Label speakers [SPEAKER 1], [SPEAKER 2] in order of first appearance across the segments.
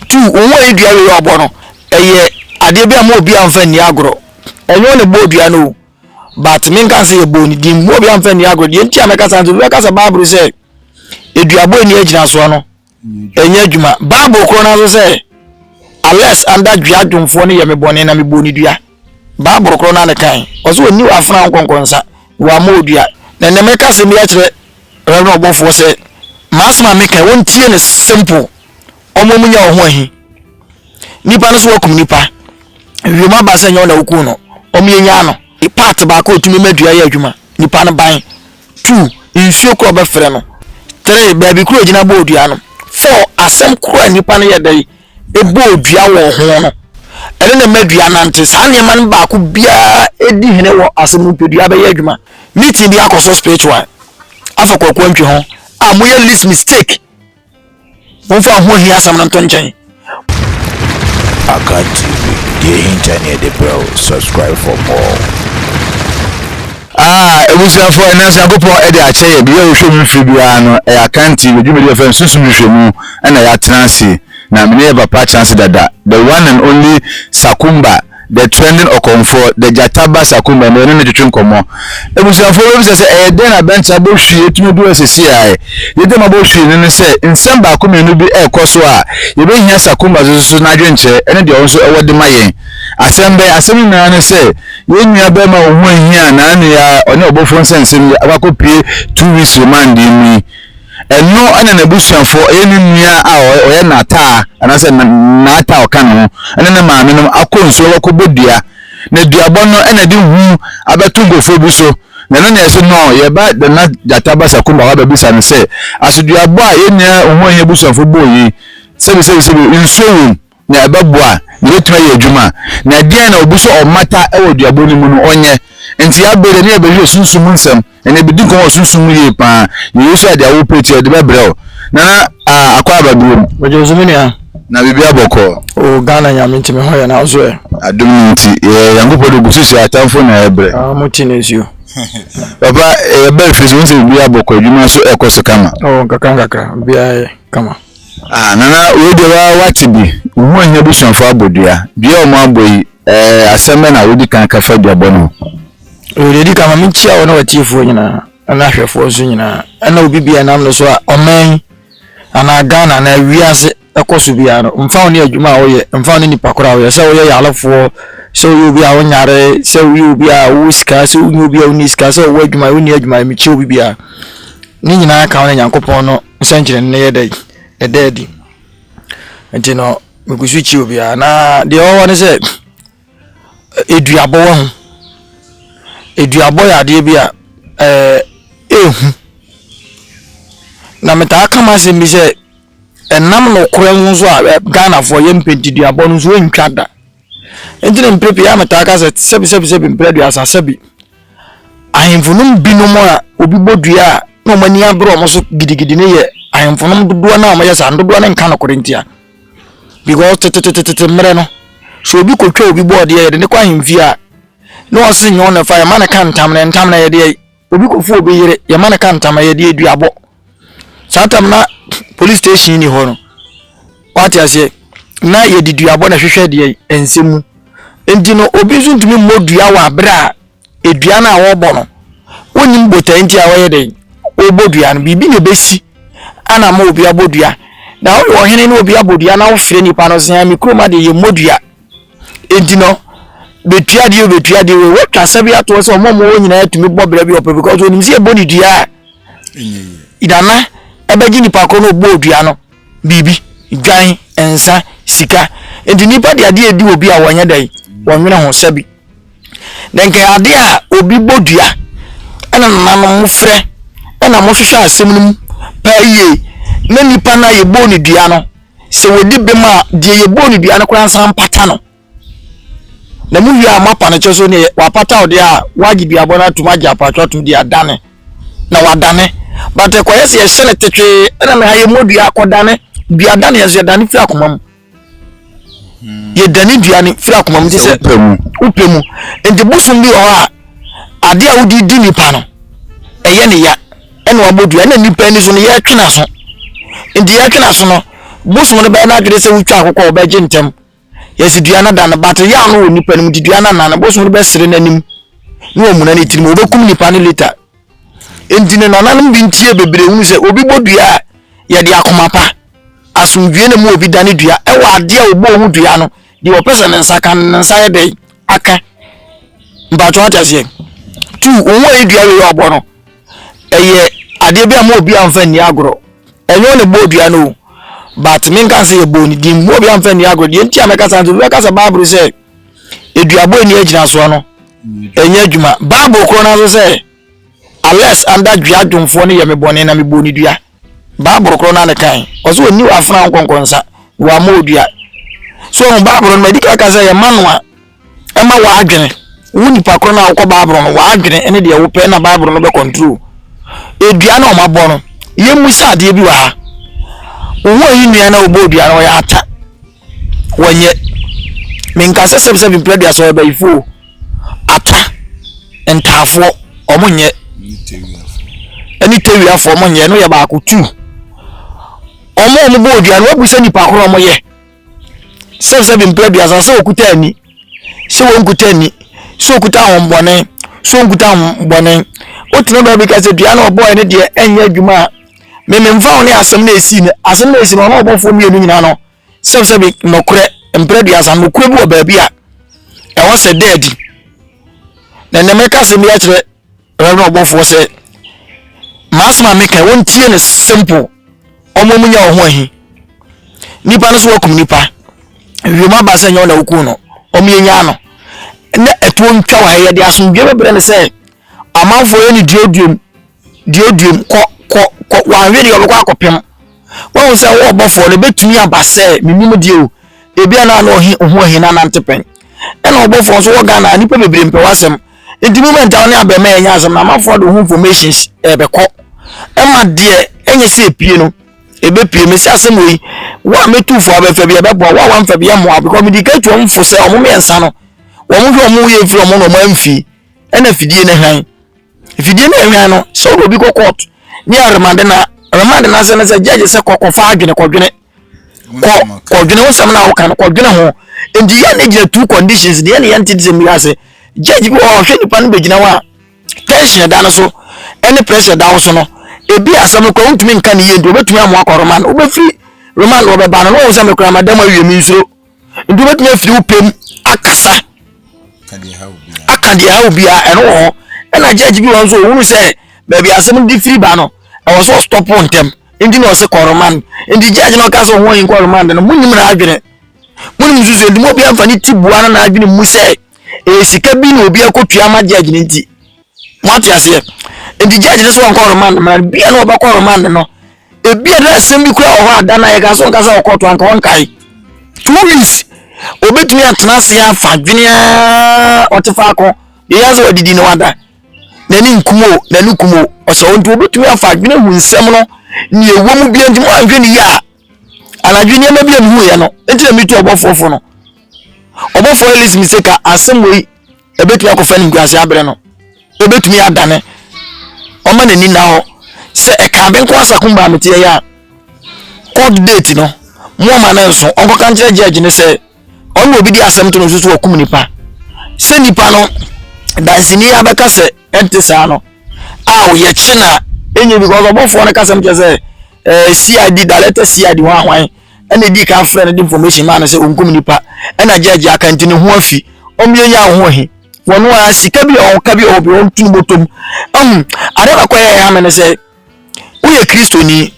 [SPEAKER 1] Two, Owu a yɛdua wei a ɔbɔ no, ɛyɛ adeɛ bi a mo obiara mfa nni agorɔ. Ɛnyɛ wɔn na ɛbɔɔ dua no o, but menka sɛ yɛbɔɔ ne din. Mo obiara mfa nni agorɔ. Deɛ nti a mɛka saa nti, obi bɛka sɛ Bible sɛ aduabɔ nni agyinasoɔ no, ɛnyɛ adwuma. Bible korɔ no nso sɛ, Unless under dua dwomfoɔ no yɛ me bɔne na mebɔɔ ne dua. Bible korɔ no ara na ɛkae. Ɔsɛ ɔni w'afena wo nkɔnkɔn nsa, na w'ama wo dua. Na ɛnɛ mɛka asɛm bi akyerɛ Awurade no ɔbɔfoɔ sɛ, m'asɛm a meka wɔn tie no simple. Wɔn a wɔnya wɔn ho ahi. Nipa no so wakum nipa. Wiem aba sɛ nyɛ wɔn na wokum no. Wɔn yɛ nyaa no. Part baako a otumi ma dua yɛ adwuma. Nipa no ban. Two, nsuo koro a ɔbɛfrɛ no. Three, baabi koro a ogyina bɔ dua no. Four, asɛm koro a nipa no yɛ dɛ bɔɔ dua wɔ ho no, ɛno na ɛma dua nante. Saa nneɛma no baako biara di hene wɔ asɛm nipadua bɛyɛ adwuma. Meeting bi akɔ so spiritual afa kwaku antwi ho a moyɛ list mistake. Momfa ho hia asɛm no nto nkyɛn. Akan
[SPEAKER 2] TV, deɛ ɛhinta ne yɛde brɛ wo. Subscribe for more. Ah
[SPEAKER 3] ebusuafo, ɛnɛ nso Nyankopɔn ɛde akyɛ yɛn. Biribi a yɛhwɛ mu mfiri biara no, ɛyɛ akanti. Yɛ dwumadi a yɛfrɛ no Sunsum Hwehwɛ Mu ɛna yɛatena ase. Na me ne yɛn papa atena ase dada. The one and only Sakumba, the trending ɔkɔmfoɔ, the gyata ba Sakumba, ɛnɛ yɛne no retwetwe nkɔmmɔ. Ebusuafo, wobɛbisa sɛ ɛyɛ dɛn na Bɛnkye abɔ hwii atumi adu ha sesiaɛ? Deɛ nti a mabɔ hwii no ne sɛ, nsɛm baako mmienu bi ɛrekɔ so a, yɛbɛhia Sakumba so so so n'adwenkyerɛ ɛne deɛ ɔno nso ɛwɔ de ma yɛn. Asɛm bɛn? Asɛm no nyinaa ne sɛ, Yɛn nua barima a ɔho ahia a n'ano yɛ a ɔne ɔbɔfoɔ nsɛnsɛm yi akɔ akɔpue two weeks remand mu yi, ɛno na n'abusuafoɔ, ɛyɛ ne nua a ɔyɛ n'ataa anaasɛ n'ataa ɔka ne ho ne ne maame nom akɔ nsuo akɔbɔ dua. Na duabɔ no na ɛde hu abɛto nkurɔfoɔ bi so. Na ɛno na ɛsɛ no yɛba Nana Gyata Basakumba hɔ abɛbisa no sɛ, aso duabɔ a yɛn nua ɔho ahia abusuafoɔ bɔɔ yi, sɛbisɛbisɛbi nsuo wɔ mu na ɛbɛboa, na obetumi ayɛ adwuma a, na ɛdeɛn na obi sɛ ɔmmata wɔ duabɔ no mu no, ɔnyɛ. Enti yɛn abere deɛ, ne yɛbɛhwehwɛ sunsum mu nsɛm, ɛnna yɛbɛdi nkɔmmɔ wɔ sunsum mu yie pa ara. Na Yesu ayɛ deɛ wopɛ nti, ɔde bɛbrɛ wo. Nana ah, akɔ aba bio mu. Mede wo so me nua.
[SPEAKER 1] Na biribiara bɔkɔɔ.
[SPEAKER 3] Oh Ghana Nyame
[SPEAKER 1] nti me ho yɛ na wo so ɛ? Adom no nti yɛyɛ
[SPEAKER 3] Nyankopɔn de gu so hyɛ atamfo na ɛbrɛ. Ah mo ti na ɛsuo.
[SPEAKER 1] Papa
[SPEAKER 3] yɛba fie so wohu sɛ biribiara bɔkɔɔ, adwuma nso ɛkɔ so kama. Oh nkakra nkakra
[SPEAKER 1] biribiara yɛ kama. Ah nana
[SPEAKER 3] wei deɛ wa wate bi wohu ohia abusuafo abɔ dua dua a wɔn abɔ yi ɛɛ eh, asɛm bɛ na wodi kan ka fa dua bɔ no ho. Ɛwɔ deɛ di kan
[SPEAKER 1] ma menkyia wo ne watiefoɔ nyinaa ɛna ahwɛfoɔ nso nyinaa ɛna obi bia nam no so a ɔman anaa Ghana anaa wiase ɛkɔ so biara no mfa wo ne adwuma a woyɛ mfa wo ne nipa koro a woyɛ sɛ woyɛ yalefoɔ sɛ woyɛ obi a wonyare sɛ woyɛ obi a wowɔ sika sɛ wonyɛ obi a wonni sika sɛ wɔwɔ adwuma wonni adwuma mekyia obi biara ne nyinaa ka wo ne nyankopɔn no nsɛnkyerɛnne no yɛ dɛn? Ɛda adi. Nti no, megu so kyia obiara. Na deɛ ɛwɔ hɔ ne sɛ, eduabɔ wɔ ho. Eduabɔ yɛ adeɛ bi a ɛɛ ehu. Na metaa ka m'asɛm bi sɛ, ɛnam nokorɛ ho nso a Ghanafoɔ yɛ mpɛntiduabɔ no nso ɛntwa da. Nti no mprɛ pii a metaa ka sɛ sɛbi sɛbi sɛbi mprɛ aduasa sɛbi. Ahemfo no mu binom a obi bɔ dua a na wɔn ani abere wɔn so gidigidi no yɛ ahemfo no dodoɔ no a wɔyɛ saa no dodoɔ no nka nokorɛ ntia because tetetetete mmerɛ no sɛ obi kɔtwa obi bɔ ɔdeɛ yɛde ne kɔ ahemfie a na ɔse nyɛ ɔna fa yɛma no ka ntam na ntam na yɛdeɛ obi kɔfu obi yere yɛma no ka ntam na yɛdeɛ duabɔ saa tam na police station ni hɔ no wate aseɛ na yɛde duabɔ na hwehwɛ deɛ ɛnsɛ mu nti no obi nso ntumi mmɔ dua wɔ abere a edua no a wɔrebɔ no wonim botae nti a wɔyɛ dɛn wɔbɔ dua no biribi na ebesi ana ma obi abɔ dua na woyɛ ɔhene ne obi abɔ dua na wofrɛ nipa no sɛ me kurom adeɛ yɛ mmɔ dua nti no bɛtua deɛ bɛtua deɛ wei watwa sɛ bi atoɔ sɛ ɔma ɔma wɔ nyinaa tumi bɔ berɛ bi ɔpɛ because onim sɛ ɛbɔ ne dua a dana ɛbɛgye nipa korɔ no ɔbɔ dua no biribi dwan nsa sika nti nipa de adeɛ di obi a wɔnyɛ dɛn wɔnwene ho sɛ bi na nkɛ adeɛ a obi bɔ dua ɛna nananom mo frɛ ɛna mohwehwɛ asɛm no mu paa yie na nipa no a yɛbɔ ne dua no sɛ wɔdi bem a deɛ yɛbɔɔ no dua no koraa nsa mpata no na mu wie a moapa no kyɛ so ne wapata ɔde a woagye duabɔ no atom agye apatwa atom de adane na wadane but ɛkɔyɛ sɛ yɛhyɛ no tetwee ɛna na ha yɛmmɔ dua akɔdane dua dane yɛso yɛdane firi akoma mu hmm. yɛdane dua no firi akoma mu te sɛ wopɛ mu nti bosom bi wɔ hɔ a adeɛ a wode di nipa no ɛyɛ ne ya ɛna wabɔ dua ɛna nipa ani so no yɛtwe n'aso nti yɛtwe n'aso no bosom no bɛyɛ n'adwene sɛ wotwa akokɔ a ɔbɛgye ntɛm yɛsi dua no da no but yaw no wɔ nipa no mu nti dua no anan no bosom no bɛsere n'anim na wɔmuna ne tirim wɔbɛkum nipa no later nti no nananom bi ntie bebree hunu sɛ obi bɔ dua a yɛde akoma pa asomdwie na mu obi dane dua ɛwɔ adeɛ a wɔbɔ ho dua no Deɛ ɔpɛ sɛ ne nsa ka no, ne nsa yɛ dɛn aka? Mpakyɛw ate aseɛ? Tu, wɔn a ɛdua wei ɔbɔ no, ɛyɛ adeɛ bi a mo obi amfa nni agorɔ. Ɛnyɛ wɔn na ɛbɔɔ dua no o, but menka sɛ yɛbɔɔ ne din, mo obi amfa nni agorɔ. Deɛ nti a mɛka saa nso, mɛka sɛ Bible sɛ eduabɔ ani agyinasoɔ no, ɛnyɛ adwuma. Bible korɔ no nso sɛ, unless anda dua dwomfoɔ no yɛ me bɔne na mebɔɔ ne dua. Bible korɔ na ne kan ɔsɛ ɔni wafena wo nkɔnkɔ nsa wama odua so ɔhu Bible no ma ɛdi kaka sɛ yɛ ma no a ɛma w'adwene wo nipa korɔ no a wokɔ Bible no w'adwene ne deɛ wopɛ na Bible no bɛ control edua na ɔma bɔ no yɛ mu sɛ adeɛ bi wɔ ha wo ho ayi nua na ɔbɔ odua no ɔyɛ ata wɔnyɛ menka sɛ sɛbisɛ mepere aduasa wɔ abayifo o atwa ntaafoɔ wɔn nyɛ ɛne tewiafoɔ wɔn nyɛ no yɛ baako tu wɔn a wɔn bɔ odua no wɔbu sɛ nipa koro wɔn yɛ sɛbisɛ mepere aduasa sɛ okuta ani sɛ wɔn kuta ani sɛ okuta ahombɔne sɛ wɔn kuta ahombɔne wotena baabi ka sɛ dua na ɔbɔɔ ɛne deɛ ɛnyɛ adwuma a. Me memfa wo ne asɛm no a ɛsii no, asɛm no a ɛsii no ɔne ɔbɔfoɔ mmienu nyinaa no, sɛbsɛbi nɔkorɛ mprɛ aduasa, nɔkorɛ bi wɔ baabi a ɛwɔ sɛ da adi. Na nnɛ mɛka asɛm bi akyerɛ Reverend ɔbɔfoɔ sɛ, m'asɛm a meka wɔntie no simple, ɔmo mu nya wɔn ho ahi. Nipa no so wakum nipa, wiem aba sɛ nyɛ wɔn na wokum no, ɔmo yɛ nyaa no. Na ɛtoɔ ntwa wɔ ha yɛde asomdwe bɛbrɛ no sɛ, Amanfoɔ yɛ no duoduom duoduom kɔ kɔ kɔ wanhwɛ deɛ ɔbɛkɔ akɔpem wahu sɛ wo ɔbɔfoɔ no bɛtumi aba sɛ menim deɛ o ebia na ano ɔhe ohu ɔhe na nante pɛn ɛna ɔbɔfoɔ nso wɔ Ghana nipa bebree mpɛ wasɛm nti moment a wo ne abɛma yɛ nyɛ asɛm na amanfoɔ de ho information ɛbɛkɔ ɛma deɛ ɛnyɛ sɛ epie no ɛbɛpie me sɛ asɛm wei wo a mɛtufoɔ abɛfa bi ɛbɛboa wo a wamfa bi ɛmmoa because medika tuɔ mfo sɛ ɔmo mmiɛnsa no wɔn hwɛ wɔn yɛ mfiri wɔn na wɔn amfie ɛna fidie no hwan fidie no hwan no sɛ wode obi kɔ court ne aremade no aremade no asɛ no sɛ judge sɛ kɔkɔfa adwene kɔdwene kɔ kɔdwene wo sɛm no a woka no kɔdwene ho nti yɛ ne gyina two conditions deɛ ne yɛnte de sɛ mmira ase judge bi wɔ hɔ ɔhwɛ nipa no bɛgyina hɔ a tension da no so ɛne pressure da wo so no ebi asɛm no kɔ wontumi nka ne yie nti wobɛtumi amoa kɔ remand wobɛfiri remand wɔbɛba no na wɔn sɛ mekora madam awie me nsuro nti wobɛtumi afiri wo pɛm akasa aka deɛ ɛhaw biara ɛno wɔ hɔ ɛna judge bi wɔ nso ɔhunu sɛ baabi asɛm de firi ba no ɛwɔ sɛ ɔstɔpo ntɛm nti na ɔse kɔ remand nti judge na ɔka sɛ ɔho ayi kɔ remand no monim na adwene monim nsusu nti mu obi amfa ne ti bua no na adwene mu sɛ ɛyɛ sika bi na obi akɔtua ama judge no nti Mo ate aseɛ? Nti judge no sɛ ɔnkɔ remand mmara no, bia na ɔbɛkɔ remand no. Ebia na asɛm bi kura wɔ hɔ a da no a yɛka sɛ ɔnka sɛ ɔkɔɔto anka ɔnkae. Two weeks obetumi atena ase afa dwene a ɔte faako deɛ yɛn sɛ wadidi na wada n'ani nkum o n'ani kum o ɔsɛ ɔnti obetumi afa dwene hu nsɛm no nea ɛwɔ mu bia nti mo anhwɛ ne yie a Anadwo nneɛma bi a mehuiɛ no nti na metu ɔbɔfoɔ fo no. Ɔbɔfoɔ Elise mi se ka asɛm wei ɛbɛtumi akɔfa ne nkuase aberɛ no. Ɛbɛtumi adane ɔma n'ani nna hɔ sɛ ɛka benko asako mbaa meteɛ yɛ a court date no moama no nso ɔnkɔka nkyerɛ judge no sɛ ɔno na obi de asɛm to no so so ɔkum nipa sɛ nipa no dansini abɛka sɛ ɛnte saa no a ɔyɛ kye na ɛnyɛ because ɔbɔfoɔ no kasɛm kyɛ sɛ ɛɛ cid dalɛtɛ cid ho ahwan ɛna edi kan frɛ no de information maa no sɛ ɔnkum nipa ɛna gyɛɛgye aka nti ne ho afi wɔn yɛ nya ho ahi wɔn a sika bi a wɔn ka bi a wɔn bi wɔn tunu bɔtɔm ɛhun adeɛ baako a ɛyɛ ha mi no sɛ. woyɛ kristoni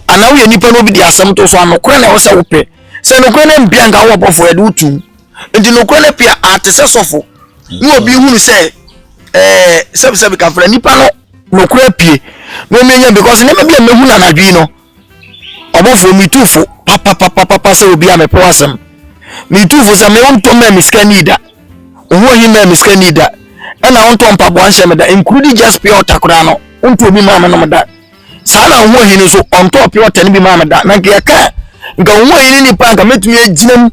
[SPEAKER 1] anaa woyɛ nipa na obi de asɛm to so a nokorɛ na ɛwɔ sɛ wopɛ sɛ nokorɛ no mpia nka wowɔ bɔfoɔ yɛde wotum nti nokorɛ no pia ate sɛ sɔfo ne obi hunu sɛ ɛɛ sɛbisɛbi kafra nipa no nokorɛ pie na omi enya because nneɛma bi a mehu na anadwi no ɔbɔfoɔ mi tu fo papapapapa sɛ obi a mepɛ asɛm mi tu fo sɛ mewo ntɔm mɛ mi sika ni da. Wo ho nhimɛɛ me sika nni da. Ɛna wontɔ mpaboa nhyɛ me da. Nkurudi just pure water koraa no, wontɔ obi maa me nom da. Saa na wo ho nhini nso, ɔntɔɔ pure water no bi maa me da. Na nka yɛka a, nka wo ho nhini nipa nka mɛtumi agyina mu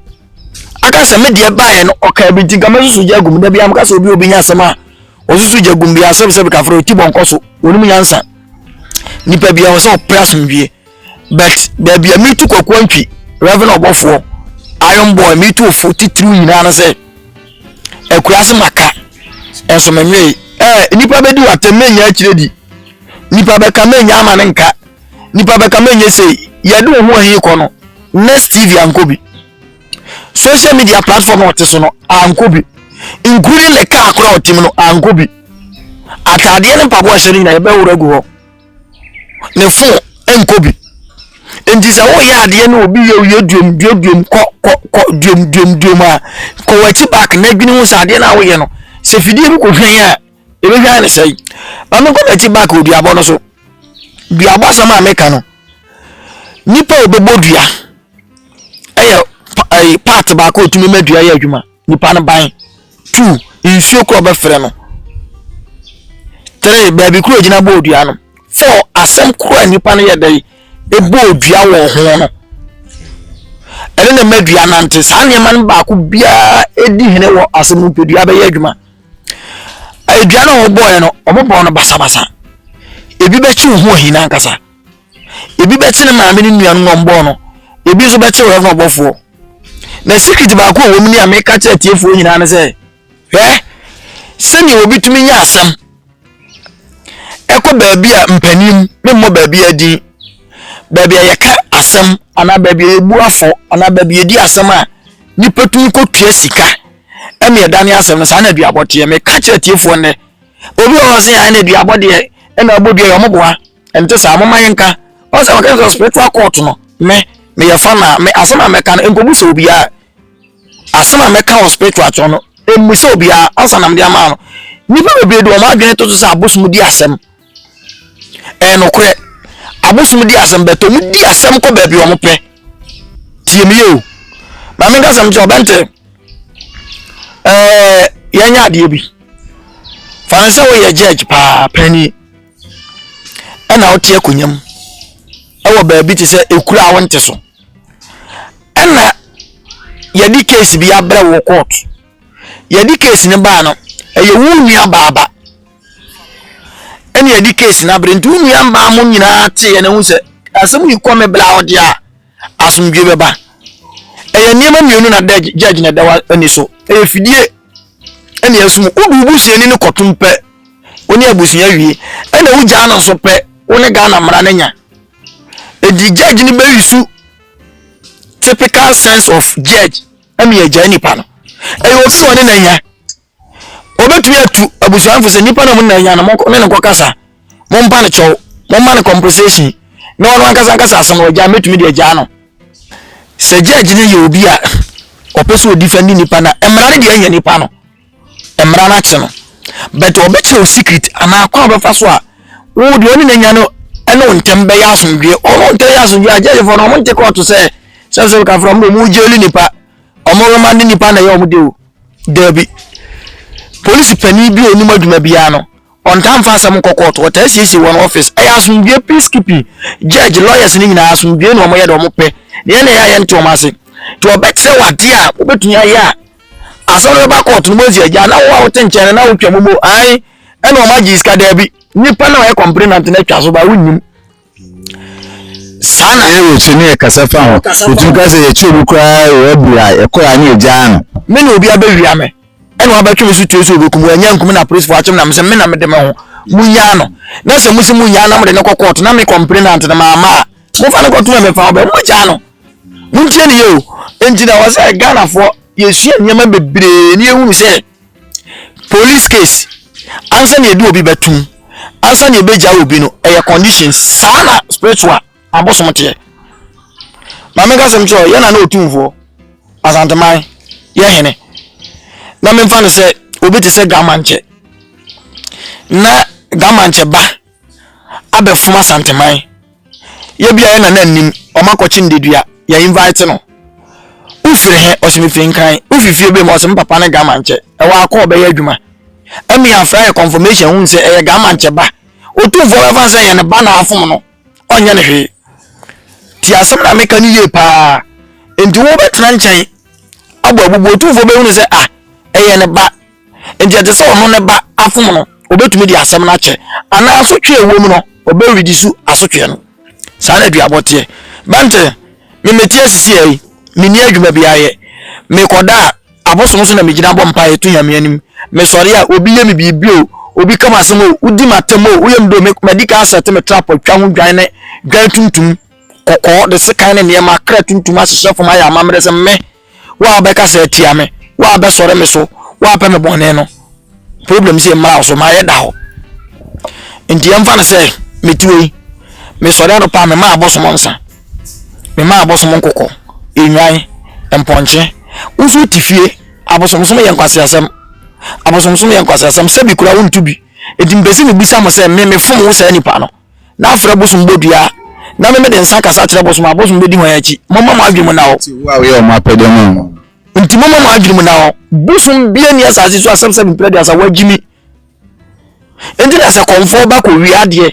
[SPEAKER 1] aka sɛ me deɛ baeɛ no ɔkaa bi nti nka mɛsusu gya agum da biara meka sɛ obi obi nya asɛm a ɔsusu gya agum biara sɛbsɛbe kafrɛ ɔti bɔnkɔ so wɔnom nyansa nipa biara wɔ sɛ ɔpɛ asomdwie But baabi a metu kwakuo ntwi Reverend ɔbɔfoɔ Iron Boy metu ofo titiriw nyinaa no sɛ akuraase maka nso menwee ɛɛ eh, nipa bɛdi watam menya akyire di nipa bɛka menya ama ne nka nipa bɛka menya sei yɛde wo ho ahi kɔ no next tv ankɔ bi social media platform a ɔte so no ankɔ bi including ne kaa koro a ɔtem no ankɔ bi ataadeɛ ne mpaboa hyɛ no nyinaa yɛbɛworɔ agu hɔ ne fon nkɔ bi. Nti sɛ woyɛ adeɛ na obi yɛ woyɛ duom duom duom kɔ kɔ kɔ duom duom duom a kɔ w'akyi back na adwene ho sɛ adeɛ no a woyɛ no sɛ fidie bi kɔ hwɛn a ɛbɛhwɛn ne sɛe ma menkɔ m'akyi back wɔ duabɔ no so duabɔ asɛm a meka no nipa a ɔbɛbɔ dua ɛyɛ part baako a ɔtumi ma dua yɛ adwuma Nipa no ban. Two, nsuo korɔ bɛfrɛ no. Three, baabi korɔ gyina bɔɔ dua no. Four, asɛm korɔ a nipa no yɛ dɛ ɛbɔɔ dua wɔ ho no. Ɛne na ma dua nante. Saa nneɛma no baako biara ɛdi hene wɔ asɛm no pɛ dua bɛyɛ adwuma. Dua no a wɔbɔɔɛ no, wɔbɔɔ no basabasa. Ebi bɛkye wo ho ahina ankasa. ebi bɛte ne maame ne nuanom na ɔmbɔɔ no ebi nso bɛte ɔyɛfo ɔbɔfoɔ na secret baako a wɔm ni a meka kyerɛ atiefoɔ nyinaa ne sɛ hwɛ sɛnea obi tumi nya asɛm ɛkɔ baabi a mpanin memmɔ baabi a din baabi a yɛka asɛm anaa baabi a yɛbu afɔ anaa baabi a yɛdi asɛm a nipa tumi kɔtua sika ɛne ɛda ne asɛm no saa na aduabɔ teɛ meka kyerɛ atiefoɔ nnɛ obi wɔ hɔ sɛ ɛna aduabɔ deɛ ɛna abɔ dua yɛ ɔmoboa ɛnte saa momma yɛnka ɔn sɛ wɔka sɛ spiritual court no me meyɛ fa na me asɛm a mɛka no nkɔbu sɛ obiara asɛm a mɛka wɔ spiritual kyerɛ no ɛmmu sɛ obiara ansa na mede ama no nnipa bebree de wɔn adwene to so sɛ abosom di asɛm ɛyɛ nokorɛ abosom di asɛm bɛtɔ mu di asɛm kɔ baabi wɔn pɛ tie me yɛ o maame nka sɛm kyɛ ɔbɛnte ɛɛ yɛnyɛ adeɛ bi fa ne sɛ woyɛ judge paa panyin ɛna wote akonnwa mu ɛwɔ baabi te sɛ ekuro a wonte so ɛna yɛde case bi abrɛ wɔ court yɛde case no baa no ɛyɛ wo nua baaba ɛna yɛde case no abrɛ nti wo nua mmaa mo nyinaa teeɛ na ehu sɛ asɛm yi kɔ me bla ɔde a. asomdwoe bɛba. Ɛyɛ nneɛma mmienu na da gyɛgye na ɛda w'ani so. Ɛyɛ fidie ɛne ɛsum. Wode wo busuani no kɔtom pɛ, wo ne abusua wie. Ɛna wo gyaa no nso pɛ, wo ne Ghana mmara no nya. Edi judge no bɛyi su typical sense of judge ɛne agyae nipa no. Ɛyɛ obi na ɔne na nya. Wɔbɛtumi atu abusua no fo sɛ nipa no a mo nyinaa hia no, monkɔ ne ne nkɔkasa, mompa no kyɛw, momma no compensation, na ɔno ankasa nkasa asɛm no, ɔgyaa mɛtumi deɛ gyaa no. Sɛ judge no yɛ obi a ɔpɛ sɛ ɔdifɛndi nipa no a, mmara no deɛ ɛnyɛ nipa no, mmara no akye no. But ɔbɛkyerɛ wo secret anaa kwan a ɔbɛfa so a wo deɛ ɔne n'anya no ɛne wo ntɛm bɛyɛ asomdwoeɛ. Ɔmo ntɛm yɛ asomdwoeɛ a judgefoɔ no ɔmo nte kɔɔto sɛ sɛ sɛ kafra ɔmo de ɔmo gyeli nipa. Ɔmo remande nnipa na ɛyɛ ɔmo dɛ o? Daabi. Polisi panin bi a onim adwuma biara no, ɔntaa mfa asɛm nkɔ kɔɔto, ɔtaa siesie wɔn ɔfis. Ɛyɛ asomdwoe, peace keeping. Judge, lawyers no nyinaa, asomdwoe na wɔyɛ deɛ wɔpɛ. Deɛ na ɛyɛ a yɛnte wɔn ase. Nti wɔbɛkyerɛ wo adeɛ a wobɛtumi ayɛ a, asɛm no bɛba kɔɔto no mu asi agya. Na wo a wote nkyɛn no, na wotwa mu mo, ae, ɛna wɔagye sika, daabi. Nnipa no a wɔyɛ complainant no atwa so, but wonnim. Saa na ɛyɛ wɔ Kyene kasa
[SPEAKER 3] fa ho. Yɛtumi ka sɛ yɛkye obi koraa wɔ Hebri a, ɛkɔ a na yɛgyaa no. Me na obi abɛwia
[SPEAKER 1] me, ɛna wabɛtwe me so tue sɛ ɔbɛku me. Wannya anku me na apolisifoɔ akyere me na mesɛ me na mede me ho. Monnyaa no. Na sɛ mose monnyaa no na mode no kɔ kɔɔto na me kɔmplenant no mamma a, momfa no nkɔto mmɛmfa ho bɛ. Mommɔgyaa no. Montie no yie o. Enti na ɛwɔ sɛ Ghanafoɔ yɛsua nneɛma bebree na yɛhunu sɛ, Police case ansa na yɛde obi bɛtum ansa na yɛbɛgya obi no ɛyɛ conditions saa na spiritual abosom teɛ ma menka sɛm kyerɛ yɛ na na ɔtumfoɔ asanteman yɛ hene na memfa no sɛ obi te sɛ gamankyɛ na gamankyɛ ba abɛfom asanteman yɛ bia yɛ nana nnim wɔn akɔkye ndedua yɛ invite no wofiri he ɔsɛ mefiri nkran wofifie bɛ mu ɔsɛ me papa ne gamankyɛ ɛwɔ akɔ ɔbɛyɛ adwuma ɛmi afra yɛ confirmation hu sɛ ɛyɛ gamankyɛ ba otumfoɔ bɛfa sɛ yɛ ne ba na afom no ɔnyɛ ne hwee ti asɛm na meka no yie paa nti wobɛtena nkyɛn abɔ abubu otumfoɔ bɛhunu sɛ ah ɛyɛ ne ba Enti ɛte sɛ ɔno ne ba afom no, obetumi de asɛm no akyɛ, anaa asotwe a ɛwɔ mu no, ɔbɛredi so asotwe no. Saa na aduabɔ teɛ. Bɛnte, Me mete ase siaa yi, menni adwuma biara yɛ. Mekɔda a, abosom so na megyina bɔ mpaeɛ to Nyame anim. Mesɔre a, obi yɛ me biribi o, obi ka m'asɛm o, wodi m'atɛm o, woyɛ me dɛ o, me, madi kan asɛte me trap atwa ho dwan ne dwan tuntum, kɔkɔɔ, de sekan ne nneɛma, kra tuntum ahyehyɛ fam ayɛ amammerɛ sɛ me, Wo a wobɛkasa atia me, wo a wobɛsɔre me so, wo a wopɛ me bɔne no, problem sɛ mmra wo so, mayɛ da hɔ. Nti yɛmfa no sɛ mete hɔ yi, mesɔre anɔpa a memaa abosom nsa, memaa abosom nkokɔ, nnwan, mpɔnkye. Wo nso wote fie, abosomsom yɛ nkwaseasɛm. Abosomsom yɛ nkwaseasɛm, sɛbi koraa wonto bi. Enti mepɛ sɛ mebisa mo sɛ me mefom wo saa nipa no. na afrɛ bosom bɔ dua, na me mede nsa akasa akyerɛ bosom a, bosom bɛdi hwan akyi? Momma mo adwene mu nna hɔ. Enti wo a woyɛ wɔn apɛdeɛ
[SPEAKER 3] ma wɔn no. Enti momma mo adwene
[SPEAKER 1] mu nna hɔ. Bosom bia ni asase so asɛm sɛ mprɛ deɛ sɛ woagye mi. Enti na sɛ kɔmfoɔ ba kɔwie adeɛ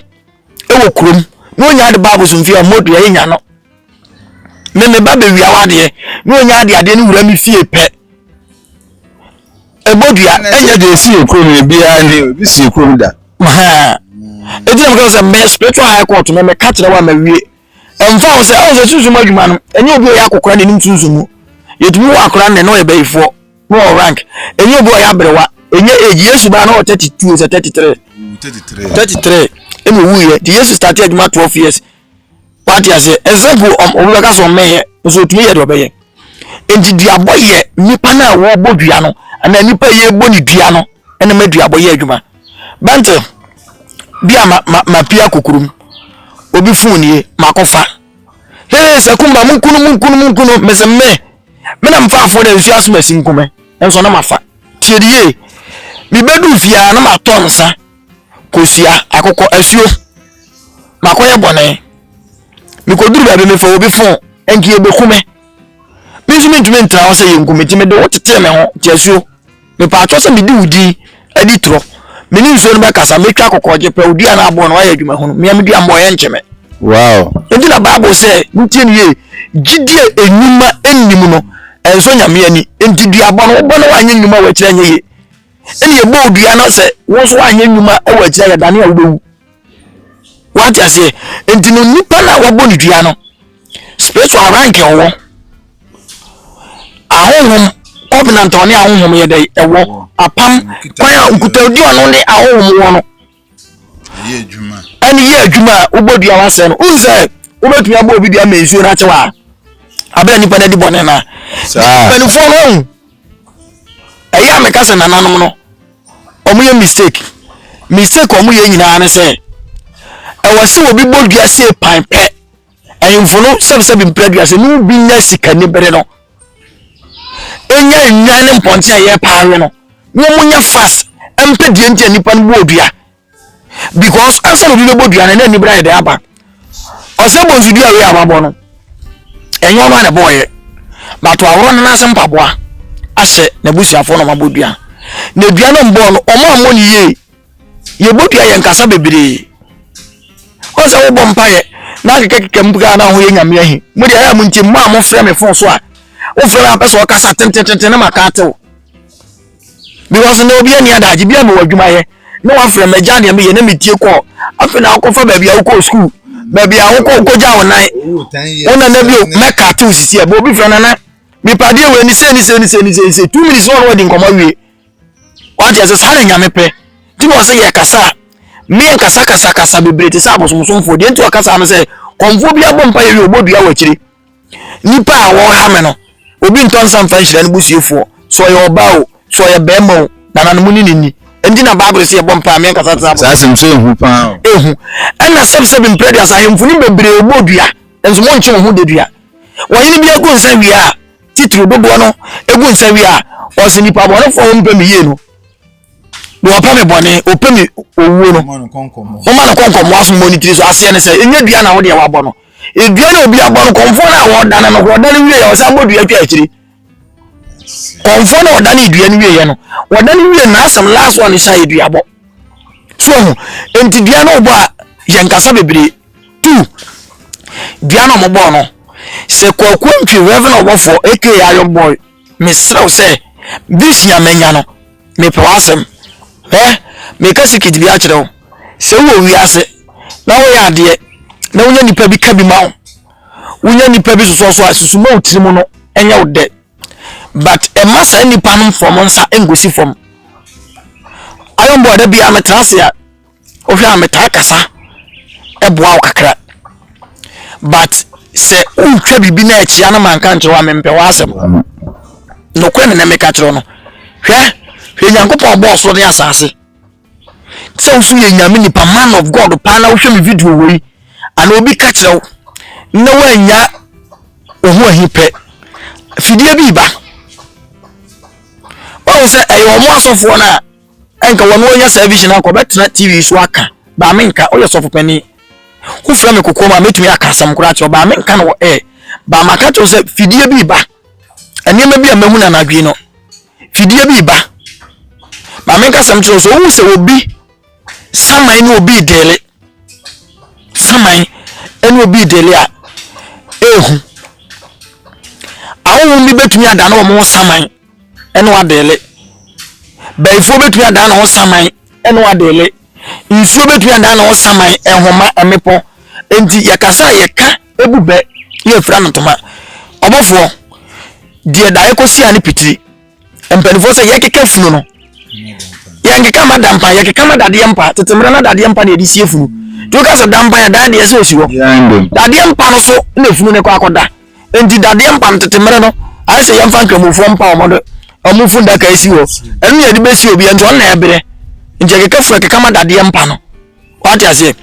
[SPEAKER 1] wɔ kurom na ɔnya de ba abosomfie a, mmɔ dua, yɛnya no. Me me ba bɛwia wadeɛ na ɔnya adeɛ adeɛ no wura me fie pɛ ɛbɔ dua ɛnyɛ deɛ ɛsi yɛ
[SPEAKER 3] kurom no biara ne obi si yɛ kurom da
[SPEAKER 1] ɛti na mekɛ sɛ me spiritual high court me meka kyerɛ wo a mawie ɛmfa wo sɛ ɛwɔ sɛ sunsum adwuma no ɛnyɛ obi ɔyɛ akokora na ɛnim sunsum mu yɛtumi wɔ akora nnɛ na ɔyɛ bayifoɔ na ɔwɔ rank ɛnyɛ obi ɔyɛ aberewa ɛnyɛ age yesu baa na ɔwɔ 32 sɛ 33 33 ɛna ɔwuiɛ nti yesu starte adwuma 12 years wate aseɛ ɛnsɛ sɛ obi bɛka sɛ ɔmmɛyɛ nso ɔtumi yɛ deɛ ɔbɛyɛ nti duabɔ yɛ nnipa no a wɔbɔ dua no anaa nnipa a yɛbɔ ne dua no ɛna ma duabɔ yɛ adwuma bɛnte bi a ma ma ma pia kokurum obi fon nie makɔfa hee sɛ kumba mu nkunu mu nkunu mu nkunu mesɛ me me na mfa afo na nsu asoma si nkume nso na mafa tiɛ de yie mebɛdu fie a na matɔ nsa kosua akokɔ asuo makɔyɛ bɔne mekɔduru baabi mefa obi fon nti yɛbɛku me me nso mentumi ntra hɔ sɛ yɛnku me nti mede wo tetee me ho te asuo mepaatwɔ sɛ medi wo din adi torɔ me ne nsuo no bɛkasa mɛtwa akokɔgye pɛ odua no aboɔ no wayɛ adwuma hunu mea medua mmɔ yɛ nkyeme wow nti
[SPEAKER 3] na bible sɛ
[SPEAKER 1] montie no yie gyidie nnwuma nnim no ɛnsɔ nyame ani nti duabɔ no wobɔ no wanyɛ nnwuma wɔakyerɛ nyɛ yie ɛna yɛbɔɔ dua na sɛ wo nso woanyɛ nnwuma wɔ akyira yɛdane a wobɛwu wate aseɛ nti no nipa no a wabɔ ne dua no spiritual rank ɛwɔ ahonhom covenant ɔne ahonhom yɛ dɛ ɛwɔ apam kwan a nkutadi ɔno ne ahonhom wɔ no
[SPEAKER 3] ɛne yɛ adwuma a
[SPEAKER 1] wobɔ dua wasɛe no wohu sɛ wobɛtumi abɔ obi dua ma nsuo no akye wɔ a abɛn nipa no adi bɔne no a mpanimfoɔ no ahu ɛyɛ a meka sɛ nananom no wɔyɛ mistake mistake wɔyɛ nyinaa ne sɛ ɛwɔ sɛ obi bɔ dua sei pan pɛ Ahemfo no sɛbsɛbe mpere aduasa ne obi nya sikani bere no ɛnya nnwan ne mpɔnte a yɛ paa we no wɔn nya fast ɛmpɛ deɛ nti a nipa no bɔ odua because ansa na obi bɛbɔ dua no na nibere ayɛ dɛ aba ɔsɛ bɔ nsudua wei a wabɔ no ɛnyɛ ɔno a na ɛbɔɔyɛ bato aworɔ no n'ase mpaboa ahyɛ n'abusuafoɔ na ɔmabɔ dua na dua no mbɔɔ no ɔmo ammɔ ne yie yɛbɔtua yɛn kasa bebree ɔn sɛ wobɔ mpaeɛ na akekakeka mu pika na ho yɛ nyame ahi mo deɛ ɛyɛ mo nti mo a mofrɛ me fon so a wofrɛ me apɛ sɛ ɔkasa tentententen na maka atew because na obi ani adagye bi a mewɔ adwuma yɛ na wafrɛ magya deɛ meyɛ na metie kɔɔ afei na wokɔfa baabi a wokɔɔ sukuu baabi a wokɔ wokɔgya wo nan wo nana bio mɛka atew sisi a bɛ obi frɛ nana mepadeɛ wɔ ani sɛ ni sɛ ni sɛ ni sɛ ni sɛ two minutes na ɔno wadi nkɔmmɔ awie Wate ase? Saa na Nyame pɛ. Nti na ɔsɛ yɛ kasa a, meɛ nkasa kasa kasa bebree te sɛ abosomsomfoɔ. Deɛ nti ɔkasa no sɛ, kɔmfoɔ bi abɔ mpa yɛ wie ɔbɔ dua wɔ akyire. Nipa a wɔha me no, obi ntɔ nsa mfa nhyira no busiefoɔ. Sɛ ɔyɛ ɔbaa o, sɛ ɔyɛ bɛrima o, nananom ne ne ni. Nti na Bible sɛ yɛbɔ mpa a, meɛ nkasa te sɛ abosomsomfoɔ. Saa asɛm sɛ ehu paa
[SPEAKER 3] o. Ehu. Ɛna
[SPEAKER 1] sɛbsɛb mprɛ duasa ahemfo no bebree ɔbɔ dua, nso monkye mo ho da dua. Wɔhene bi agu nsa wie a, titiriw dodoɔ no gu nsa wie a, ɔse nipa bɔnefoɔ a wɔmpɛ me yie no, na wɔpɛ me bɔne, wɔpɛ me owuo no, moma no kɔnkɔmmoa so mmɔ ne tiri so. Aseɛ ne sɛ, ɛnyɛ dua na wo deɛ wabɔ no. Dua na obi abɔ no, kɔmfoɔ no a wɔdane no, wɔdane wie yɛ, ɔsan bɔ dua twa akyiri. Kɔmfoɔ no a ɔdane dua no wie yɛ no, wɔdane wie n'asɛm last one hyɛ yɛ duabɔ. So ho, enti dua no wobɔ a, yɛnkasa bebree. Tu! Dua na wɔbɔɔ no. Sɛ Kwaku Antwi Reverend Ɔbɔfoɔ aka Iron Boy, mesrɛ wo sɛ, this year manya no. Mepɛ w'asɛm. Hwɛ, meka secret bi akyerɛ wo. Sɛ wowɔ wiase na woyɛ adeɛ na wonya nipa bi ka bi ma wo, wonya nipa bi sosɔ so a, susu ma wo tirim no nyɛ wo dɛ. But ɛma saa nipa no mfrɔm nsa nkɔsi fam. Iron Boy da biara metena ase a, Wohwɛ a metaa kasa boa wo kakra but sɛ wotwa biribi na akyia no manka nkyerɛ wo a mempɛ w'asɛm. Nokorɛ ne na meka kyerɛ no. Hwɛ, hwɛ Nyankopɔn bɔɔ soro ne asase. Sɛ wo so yɛ nyame nipa man of God paa na wohwɛ me video wei ana obi ka kyerɛ wo na woannya wo ho ahi pɛ fidie bi ba. Wahu sɛ ɛyɛ ɔmo asɔfoɔ no a Ɛnka wɔn a wɔnya saa vision no anka wɔbɛtena TV so aka, baa me nka, woyɛ sɔfo panin. Wofrɛ me kokoam a, mɛtumi aka asɛm koraa akyerɛ wo, baa me nka no wɔ air. Baa maka kyerɛ wo sɛ fidie bi reba. Nneɛma bi a mahu no anadwo no, fidie bi reba. Baa me nka asɛm kyerɛ wo sɛ wohu sɛ obi saman ne obi dele. Saman ne obi dele a, ehu. Ahohom bi bɛtumi adane wɔn ho saman. ɛne wo adeele. Bayifoɔ bɛtumi adan ne ho saman ɛne wo adeele. Nsuo bɛtumi adan ne ho saman, nhoma, mmepɔ. Enti yɛkasa a yɛka ebu bɛ yɛ fira no ntoma. Ɔbɔfoɔ, deɛ daeɛ kɔsi a ne pitiri. Mpanimfoɔ sɛ yɛkeka funu no. Yɛnkeka ma dampa, yɛkeka ma dadeɛ mpa. Tete mmerɛ na dadeɛ mpa na yɛde sie funu. Nti woka sɛ dampa yɛ dan deɛ sɛ ɔsi hɔ. Dadeɛ mpa no so na funu no kɔ akɔda. nti dadeɛ mpa no tete mmerɛ no ayɛ sɛ yɛmfa nkramofoɔ mpa wɔn de wɔn funu daka asi hɔ ɛno na yɛde bɛsi obi nti ɔno na ɛbrɛ nti ɛkeka funu ɛkeka ma dadeɛ mpa no wate aseɛ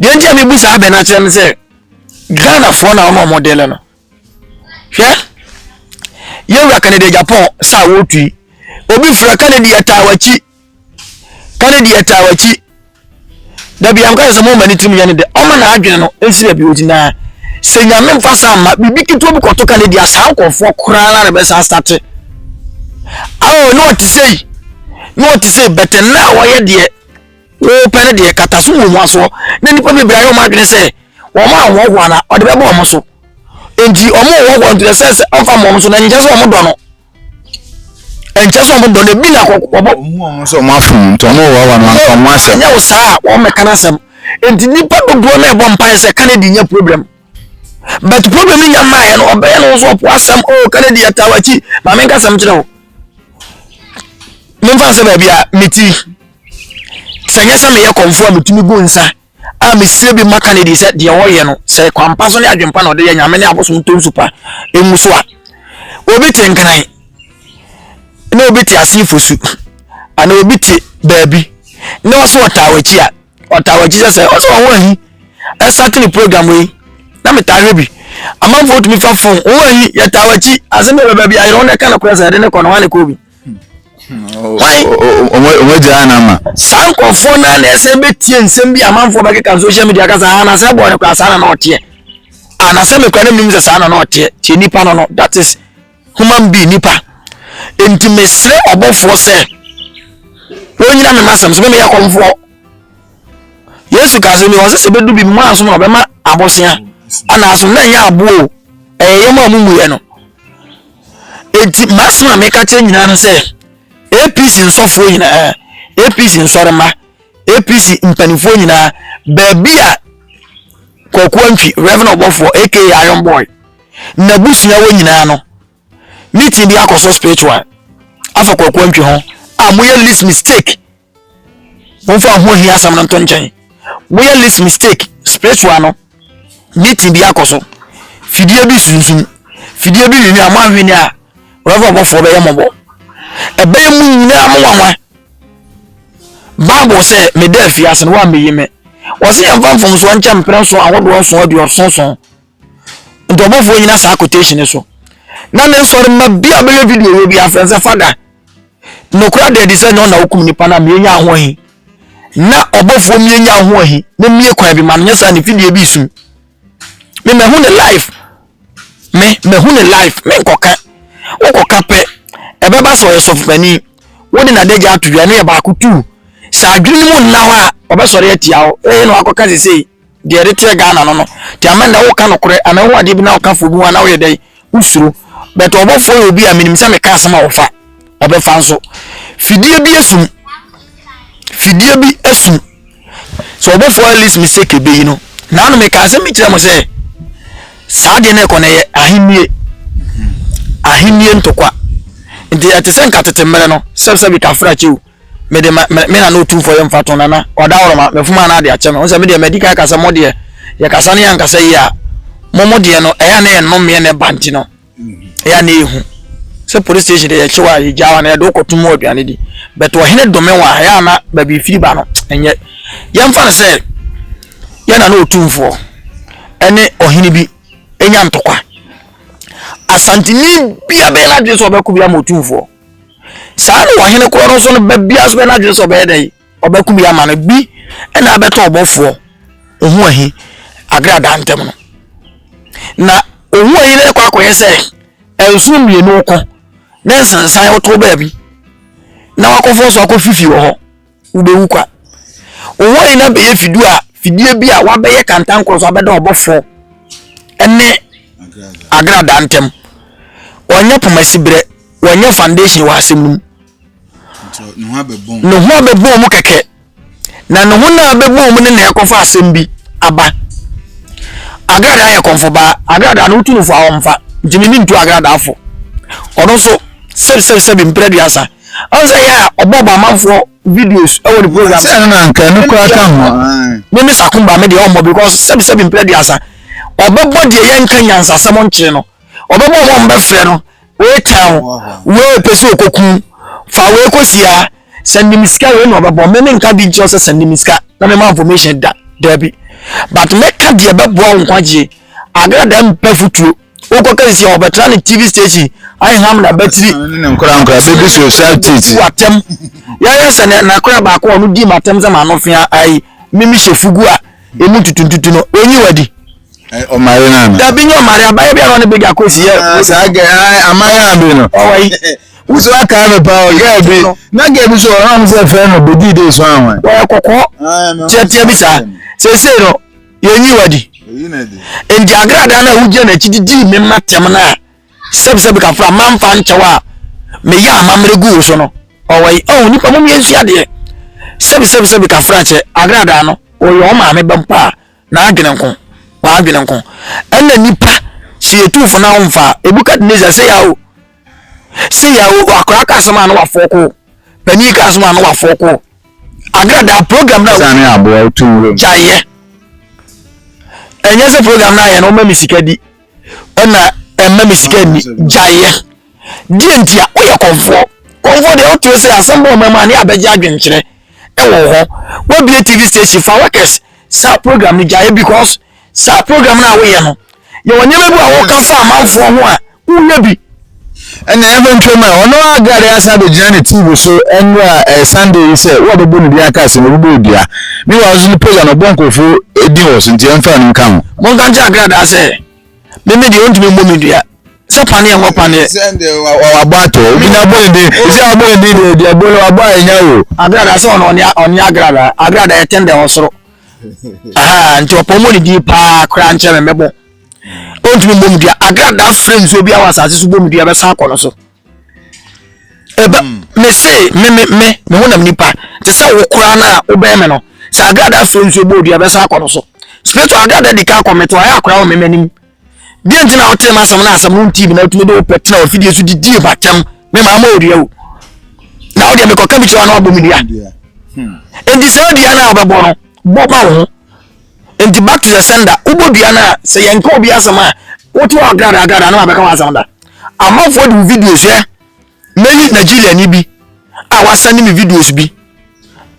[SPEAKER 1] deɛ nti a mebu saa abɛ no akyerɛ no sɛ ghanafoɔ na wɔn a wɔn dele no hwɛ yɛwura kanada japan saa wɔtui obi fira kanada yɛ taa wɔakyi Kennedy yɛ taa w'akyi da bia mka sɛ moma ne tirim yɛ ne dɛ ɔma na adwene no nsi baabi ɔti na sɛ nyame mfa saa mma biribi ketewa bi kɔto Kennedy a saa nkurɔfoɔ koraa na bɛsa asate awo ne ɔte sɛ yi ne ɔte sɛ bɛtɛ na a wɔyɛ deɛ wɔpɛ no deɛ kata so wɔ mu asoɔ na nnipa bebree ayɛ wɔn adwene sɛ wɔn a wɔn ho ana ɔde bɛbɔ wɔn so nti wɔn wɔ wɔn nti sɛ sɛ ɔmfa wɔn so na nkyɛn sɛ wɔn dɔ no ɛnkyɛ sɛ ɔmo dɔ no ebi na kɔ ɔbɔ. ɔmo ɔmo sɛ ɔmo afom
[SPEAKER 3] nti ɔmo wɔ wa no anka ɔmo asɛm. ɛnyɛ wo saa a wɔn mɛka
[SPEAKER 1] n'asɛm nti nipa dodoɔ na ɛbɔ mpaeɛ sɛ kanadi nyɛ problem but problem ni nya mmaeɛ no ɔbɛyɛ no nso ɔpo asɛm o oh, kanadi yɛ taa wakyi maame nka asɛm kyerɛ wo memfa sɛ baabi a meti sɛ nyɛ sɛ meyɛ kɔmfoɔ a metumi gu nsa a mesie bi maka no adi sɛ deɛ ɔyɛ no sɛ kwampa so ne adwempa na ɔde yɛ nyame ne abosom ntom so pa ɛngu so a obi te nkran na obi te ase fosu ana obi te baabi na ɔsɛ ɔtaa w'akyi a ɔtaa w'akyi sɛ sɛ ɔsɛ ɔho ahi ɛsate ne program yi na metaa hwɛ bi amanfoɔ tumi fa fon ɔho ahi yɛtaa w'akyi asɛm yɛ bɛbɛ bi ayerɛ wo na ɛka no korɛ sɛ ɛde ne kɔ no hɔ ne kɔ bi wɔn
[SPEAKER 3] agya ana ma. saa nkurɔfoɔ no
[SPEAKER 1] na ɛsɛ bɛtie nsɛm bi amanfoɔ bɛkeka no social media kasa ha na sɛ bɔɔ no kora saa na na ɔteɛ ana sɛ mekora no menim sɛ saa na na ɔteɛ tie nipa no no that is human being nipa nti mesrɛ ɔbɔfoɔ sɛ wɔnyina me masɛm so memeyɛ kɔmfoɔ yesu ka sɛ mewɔ sɛ sɛ bɛdu bi mu a so na ɔbɛma abosea anaa so na ɛnyɛ aboɔ ɛyɛ yɛm a mumuyɛ no Enti m'asɛm a meka kyerɛ nyinaa no sɛ APC nsɔfoɔ nyinaa, APC nsɔrema, APC mpanimfoɔ nyinaa, baabi a Kwaku Antwi, Reverend Ɔbɔfoɔ aka Iron Boy, n'abusua wɔ nyinaa no, meeting bi akɔ so spiritual afa Kwaku Antwi ho a moyɛ least mistake. Momfa ho hia asɛm no nto nkyɛn. Woyɛ least mistake spiritual no, meeting bi akɔ so. Fidie bi sunsum. Fidie bi nwini a moanhwene a ɔbɛfa ɔbɔfoɔ bɛyɛ mmɔbɔ. Ɛbɛyɛ mu nyinaa mo nwanwa. Bible sɛ meda afiase no woammɛyi me. Wɔse yɛmfa mfomsoɔ nkyɛ mprɛ nson ahodoɔ nson aduɔson nson. nti ɔbɔfoɔ nyina saa quotation so na ne nsɔre mma bi a bɛyɛ video wɔ bi afrɛ sɛ fada nokora da adi sɛ nyɛ ɔna wokum nipa no a mienya ahoɔhi na ɔbɔfoɔ mienya ahoɔhi na mie kwan bi ma no nyɛ saa ne video bi sum me mahu ne life me mahu ne life me nkɔka wokɔka pɛ ɛbɛba sɛ ɔyɛ sɔfopani wode nadagya ato dwa no yɛ baako tu sɛ adwene no mu nna hɔ a ɔbɛsɔre atia wo ɛyɛ na wakɔka sesei Deɛ ɛde teɛ Ghana no no. Nti ama nnɛ woka nokorɛ anaa wohu adeɛ bi na woka foɔ bi ho anaa woyɛ dɛn wosuro. But ɔbɔfoɔ yɛ obi a menim sɛ meka asɛm a ɔfa ɔbɛfa nso. Fidie bi asum. Fidie bi asum. Sɛ ɔbɔfoɔ at least mistake ɛbɛyi no. Na ano meka asɛm bi kyerɛ mo sɛ saa deɛ no ɛkɔ no ɛyɛ ahennie. Ahennie ntokwa. Nti ɛte sɛ nka tete mmerɛ no sɛbsɛbi kafra kyɛw. mede ma me me nana otumfoɔ yɛ mfa to nana ɔda ɔrɔma mefom a na ade akyɛ me ho sɛ me deɛ madi kan ka sɛ mo deɛ yɛkasa no yɛ ankasa yi a mo mo deɛ no ɛyɛ a na yɛ nnomeɛ na ɛba nti no ɛyɛ a na ɛhu sɛ police station deɛ yɛkyew a yɛgya wa na yɛde wokɔto mu aduane di but ɔhene dome wɔ a ɛyɛ a na baabi firi ba no ɛnyɛ yɛmfa no sɛ yɛ nana otumfoɔ ɛne ɔhene bi ɛnya ntɔkwa asanteni bia bɛyɛ no adwene sɛ ɔbɛko bi ama otumfoɔ saa na ɔhene korɔ no nso no ba biara nso bɛ n'adwene sɛ ɔbɛyɛ dɛn ɔbɛko bi ama no bi ɛna abɛtɔ ɔbɔfoɔ ohun ahi agradaa ntɛm no na ohun ahi no kɔ akɔyɛ sɛ nsono mmienu kɔ ne nsensan ɔtɔ baabi na wakɔfɔ so akɔ fifi wɔ hɔ. wobɛwu kwa. Wo hɔ yi na bɛyɛ fidie a fidie bi a wabɛyɛ kantankoro so abɛda ɔbɔfoɔ ne agradaa ntam wɔnyɛ poma siberɛ wɔnyɛ foundation wɔ asɛm no mu ne ho abɛbɔɔ mu kɛkɛ na ne ho no a bɛbɔɔ mu ne na ɛkɔfa asɛm bi aba agradaa yɛ kɔmfo baa agradaa no wotu no fo a wɔmfa nti ne ne ntu agradaa fo ɔno nso sɛbisɛbisɛbi mprɛ duasa Ɔn sɛ yɛ a ɔbɔ bɔ amanfoɔ videos ɛwɔ ne program so. Sɛ ɛno na anka ɛno koraa
[SPEAKER 3] ka ho a. Me me sakumba me deɛ
[SPEAKER 1] ɔmmɔ because sɛbi sɛbi mpere aduasa ɔbɛbɔ deɛ yɛ nka nyansasɛm nkyee no ɔbɛbɔ ɔmɔ ɔmbɛ frɛ no wei tɛn wei pɛ sɛ ɔkɔku fa wei kɔsia sɛ nim sika wei na ɔbɛbɔ me me nka bi nkyerɛ sɛ sɛ nim sika na me ma information da daabi but mɛka deɛ bɛboa wo nkwagyeɛ agradaa mpɛ fotuo wokɔ kɛsisi a wɔbɛtra ne tv station aham na batiri nkorankora bɛbi
[SPEAKER 3] so saa titi atɛm
[SPEAKER 1] yɛyɛ sɛ ne nakora baako a ɔno di ma atɛm sɛ ma no fea ayi mimi hyɛ fugu a ɛmu ntutuntutu no ɔnyi wadi ɔmare
[SPEAKER 3] no ana dabi nyɛ ɔmare abayɛ
[SPEAKER 1] bi a ɔne bɛgya kɔsi yɛ ah, saa gɛ ah, amayɛ
[SPEAKER 3] a bi no ɔwɔyi wusu
[SPEAKER 1] aka
[SPEAKER 3] mi pa o gɛɛ bi na gɛɛ bi so ɔhɔn sɛ fɛn no bedi de so ahɔn. wɔyɛ kɔkɔɔ
[SPEAKER 1] tiɛtiɛ bi saa sese no yɛnyi wadi nti agradaa no a wogyina n'akyi de dii me mma tɛm no a sɛbsɛb kafra mamfa nkyɛw a meyɛ amammerɛ gu wo so no ɔwɔ yi ɔho nipa mom yɛnsu adeɛ sɛbsɛbsɛb kafra kyɛ agradaa no ɔyɛ ɔ maame bɛm paa na adwene nko waadwene nko ɛna nipa sɛ yɛtu fo no a womfa ebukadnezar sɛ yɛ o sɛ yɛ o akora ka asɛm a no wafɔɔ koo panin ka asɛm a no wafɔɔ koo Agradaa program na. Ɛsan ne aboa a otu nwura
[SPEAKER 3] mu. Gya yɛ.
[SPEAKER 1] Ɛnyɛ sɛ program na ayɛ no ɔma mi sika di. Ɛna ɛma mi sika ni. Gya yɛ. Deɛ nti a woyɛ kɔnfoɔ. Kɔnfoɔ deɛ wote sɛ asɛm bɔ ɔma mu a ne abɛgye adwenkyerɛ ɛwɔ hɔ. Wabie TV station fa workers saa program no gya yɛ because Saa program no a woyɛ no, yɛwɔ nneɛma bi a woka fa amanfoɔ ho a woyɛ bi. Ɛna yɛmfa
[SPEAKER 3] ntwam a ɔno a Gade asan abɛgyina ne TV so nnora ɛyɛ eh, Sunday yi sɛ wo a bɛbɔ ne din aka asɛm ɔbɛbɔ odua. Me wɔ nso ne page a na ɔbɔ nkurɔfoɔ eh, din wɔ so nti yɛmfa no nka ho. Monka nkyɛ agradaa
[SPEAKER 1] sɛ meme deɛ ɔntumi mmɔ me dua sɛ paneɛ wɔ paneɛ. wabɔ
[SPEAKER 3] ato obi na abɔ ne din ɛsɛ abɔ ne din deɛ deɛ bɔ no wabɔ a ɛnya o. Agradaa sɛ ɔno
[SPEAKER 1] ɔne agradaa agradaa ɛtɛn dɛ ɔsoro. nti ɔpɔ mmɔ ne din paa koraa nkyɛn me mɛbɔ ɔntumi mmɔ mu dua agradaa frɛ nsuo bi awɔ asase so bɔ mu dua bɛsan akɔ no so ɛbɛ hmm. me se me me me me ho nam nipa te sɛ wo koraa no a wobɛn me no sɛ agradaa frɛ nsuo bɔ dua bɛsan akɔ no so spiritual agradaa di ka akɔ me to ayɛ akora wɔ me m'anim deɛ nti na wotee m'asɛm no asɛm no ntii bi na wotumi de wo pɛ tena ɔfidie so didie batɛm me maa ma ɔdua o na wodeɛ mekɔka bi kyerɛ wa na wabɔ me dua enti saa dua no a wobɛbɔ no bɔ ma wo ho enti back to the sender wobɔ dua no a sɛ yɛnka obi asɛm a wote wɔ agradagrada na wabɛka w'asɛm da amanfoɔ de wo videos ɛ mɛyi nigeria ni bi a wasɛne me videos bi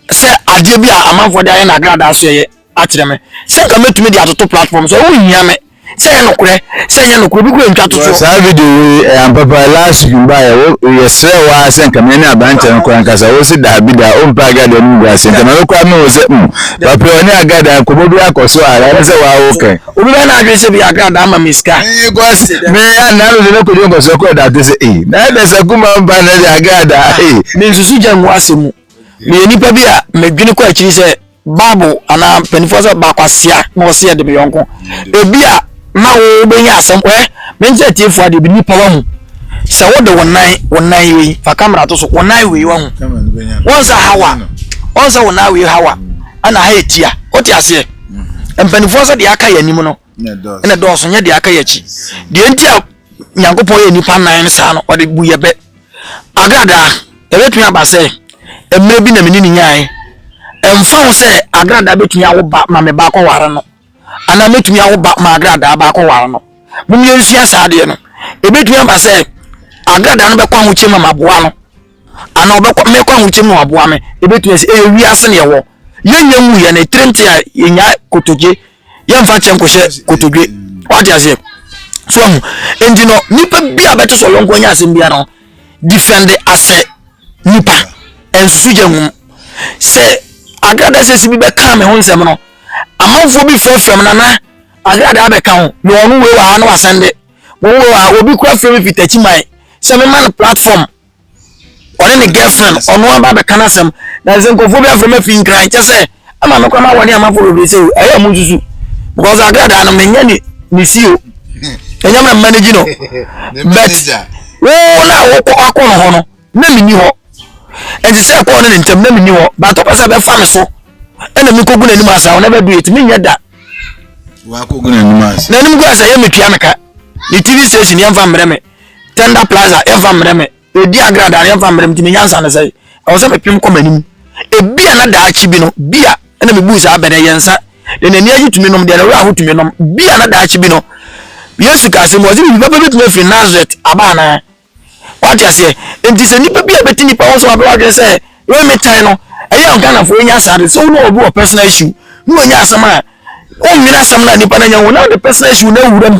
[SPEAKER 1] sɛ adeɛ bi a amanfoɔ de ayɛ no agradaa so ɛyɛ akyerɛ me sɛ nka mɛtumi de atoto platform so wohia me sɛ yɛ nokorɛ sɛ nyɛ nokorɛ obi kura ntwa to so saa video wei ɛyɛ
[SPEAKER 3] ampapa last week mbaayɛ wo yɛsrɛ wo ara sɛ nka me ne aberanteɛ no kora nkasa wo se daabi daa ɔmpɛ agada no mu gu ase nti ma me kora me ho sɛ mm papɛ ɔne agada nkɔmmɔ bi akɔ so ara ɛne sɛ waa wo kɛn obi bɛyɛ no adwene sɛ bi
[SPEAKER 1] agada ama me sika because me
[SPEAKER 3] anaa no de no kɔdwe nkɔ so kɔ da te sɛ ee na ɛdɛ sɛ kuma mpa na ɛde agada ee mensusu gya
[SPEAKER 1] ngu asɛm mu meyɛ nipa bi a medwene kɔ akyiri sɛ Bible anaa mpanimfoɔ sɛ ɔba kwasea na ɔsɛ yɛde me yɔnko ebi a ma wobɛnya asɛm ɛ menkyɛ atiefoɔ adeɛ bi nipa wahu sɛ wode wo nan wo nan wei fa kamera to so wo nan wei wahu wɔn sɛ hawa wɔn sɛ wo nan wei hawa ɛna ha etia wote aseɛ mpanimfoɔ sɛ deɛ aka yɛ anim no na ɛdɔɔso nyɛ deɛ aka yɛ akyi deɛ nti a nyankopɔn yɛ nnipa nan no saa no ɔde bu yɛ bɛ agradaa ɛbɛtumi aba sɛ mmerɛ bi na mene ne nyaeɛ ɛmfa ho sɛ agradaa bɛtumi awo ba ma me baakɔ ware no anaa mɛtumi awo ba ma agradaa baakɔ ware no momyɛ nsua saa deɛ no ɛbɛtumi aba sɛ agradaa no bɛkɔ ahokyɛ ma maboa no anaa ɔbɛkɔ mɛkɔ ahokyɛ mu aboa me ɛbɛtumi sɛ ɛyɛ wiase ne ɛwɔ yɛnyɛ mu yɛ ne tirim te a yɛnya kotogye yɛmfa kyɛ nkɔhyɛ kotodwe wate aseɛ so ahu nti no nipa bi a bɛte sɛ ɔyɔnko anya asɛm biara no defend asɛ nipa nsusu gya hu sɛ agrada sɛ si bi bɛka me ho nsɛm no amanfoɔ bi fɛ fam nana agrada abɛka ho na ɔno wei wɔ ha na wasɛn de wɔn wɔ ha obi kura fɛ mi fitakyi man sɛ mema no platform ɔne ne girlfriend ɔno aba abɛka no asɛm na sɛ nkurɔfoɔ bi afrɛ ma fi nkran kyɛ sɛ ama me kora ma wɔne amafo bebree sɛ ɛyɛ mu nsusu because agradaa no menyɛ ne ne si o ɛnyɛ mɛ manage no but wo na wokɔ akɔ no hɔ no na menni hɔ ɛnti sɛ ɛkɔɔ ne ne ntam na menni hɔ but ɔpɛ sɛ bɛfa me so ɛna mekɔgu n'anim asa wo na bɛdu ɛti menyɛ da
[SPEAKER 3] n'anim gu asɛ yɛ metua
[SPEAKER 1] meka ne tv station yɛmfa mmerɛ me tender plaza yɛmfa mmerɛ me ɔdi agrada no yɛmfa mmerɛ me nti me nyansa no sɛ ɛwɔ sɛ mepem kɔ m'anim ebi a na daakye bi no bi a ɛna mebu saa bɛdɛ yɛ nsa na n'ani agye tumi nom deɛ na wura ho tumi nom bi a na daakye bi no yesu kaa sɛ mu ɔse biribi bɛbɛ bɛtumi afiri nazaret aba anaa wate aseɛ nti sɛ nipa bi a bɛti nipa ho so wabɛ wadwene sɛ wei metan no ɛyɛ ɔghanafoɔ ɛnya saa de sɛ wo na obi wɔ personal issue na wɔnya asɛm a wonwene asɛm no a nipa no anya wo na wode personal issue na awura mu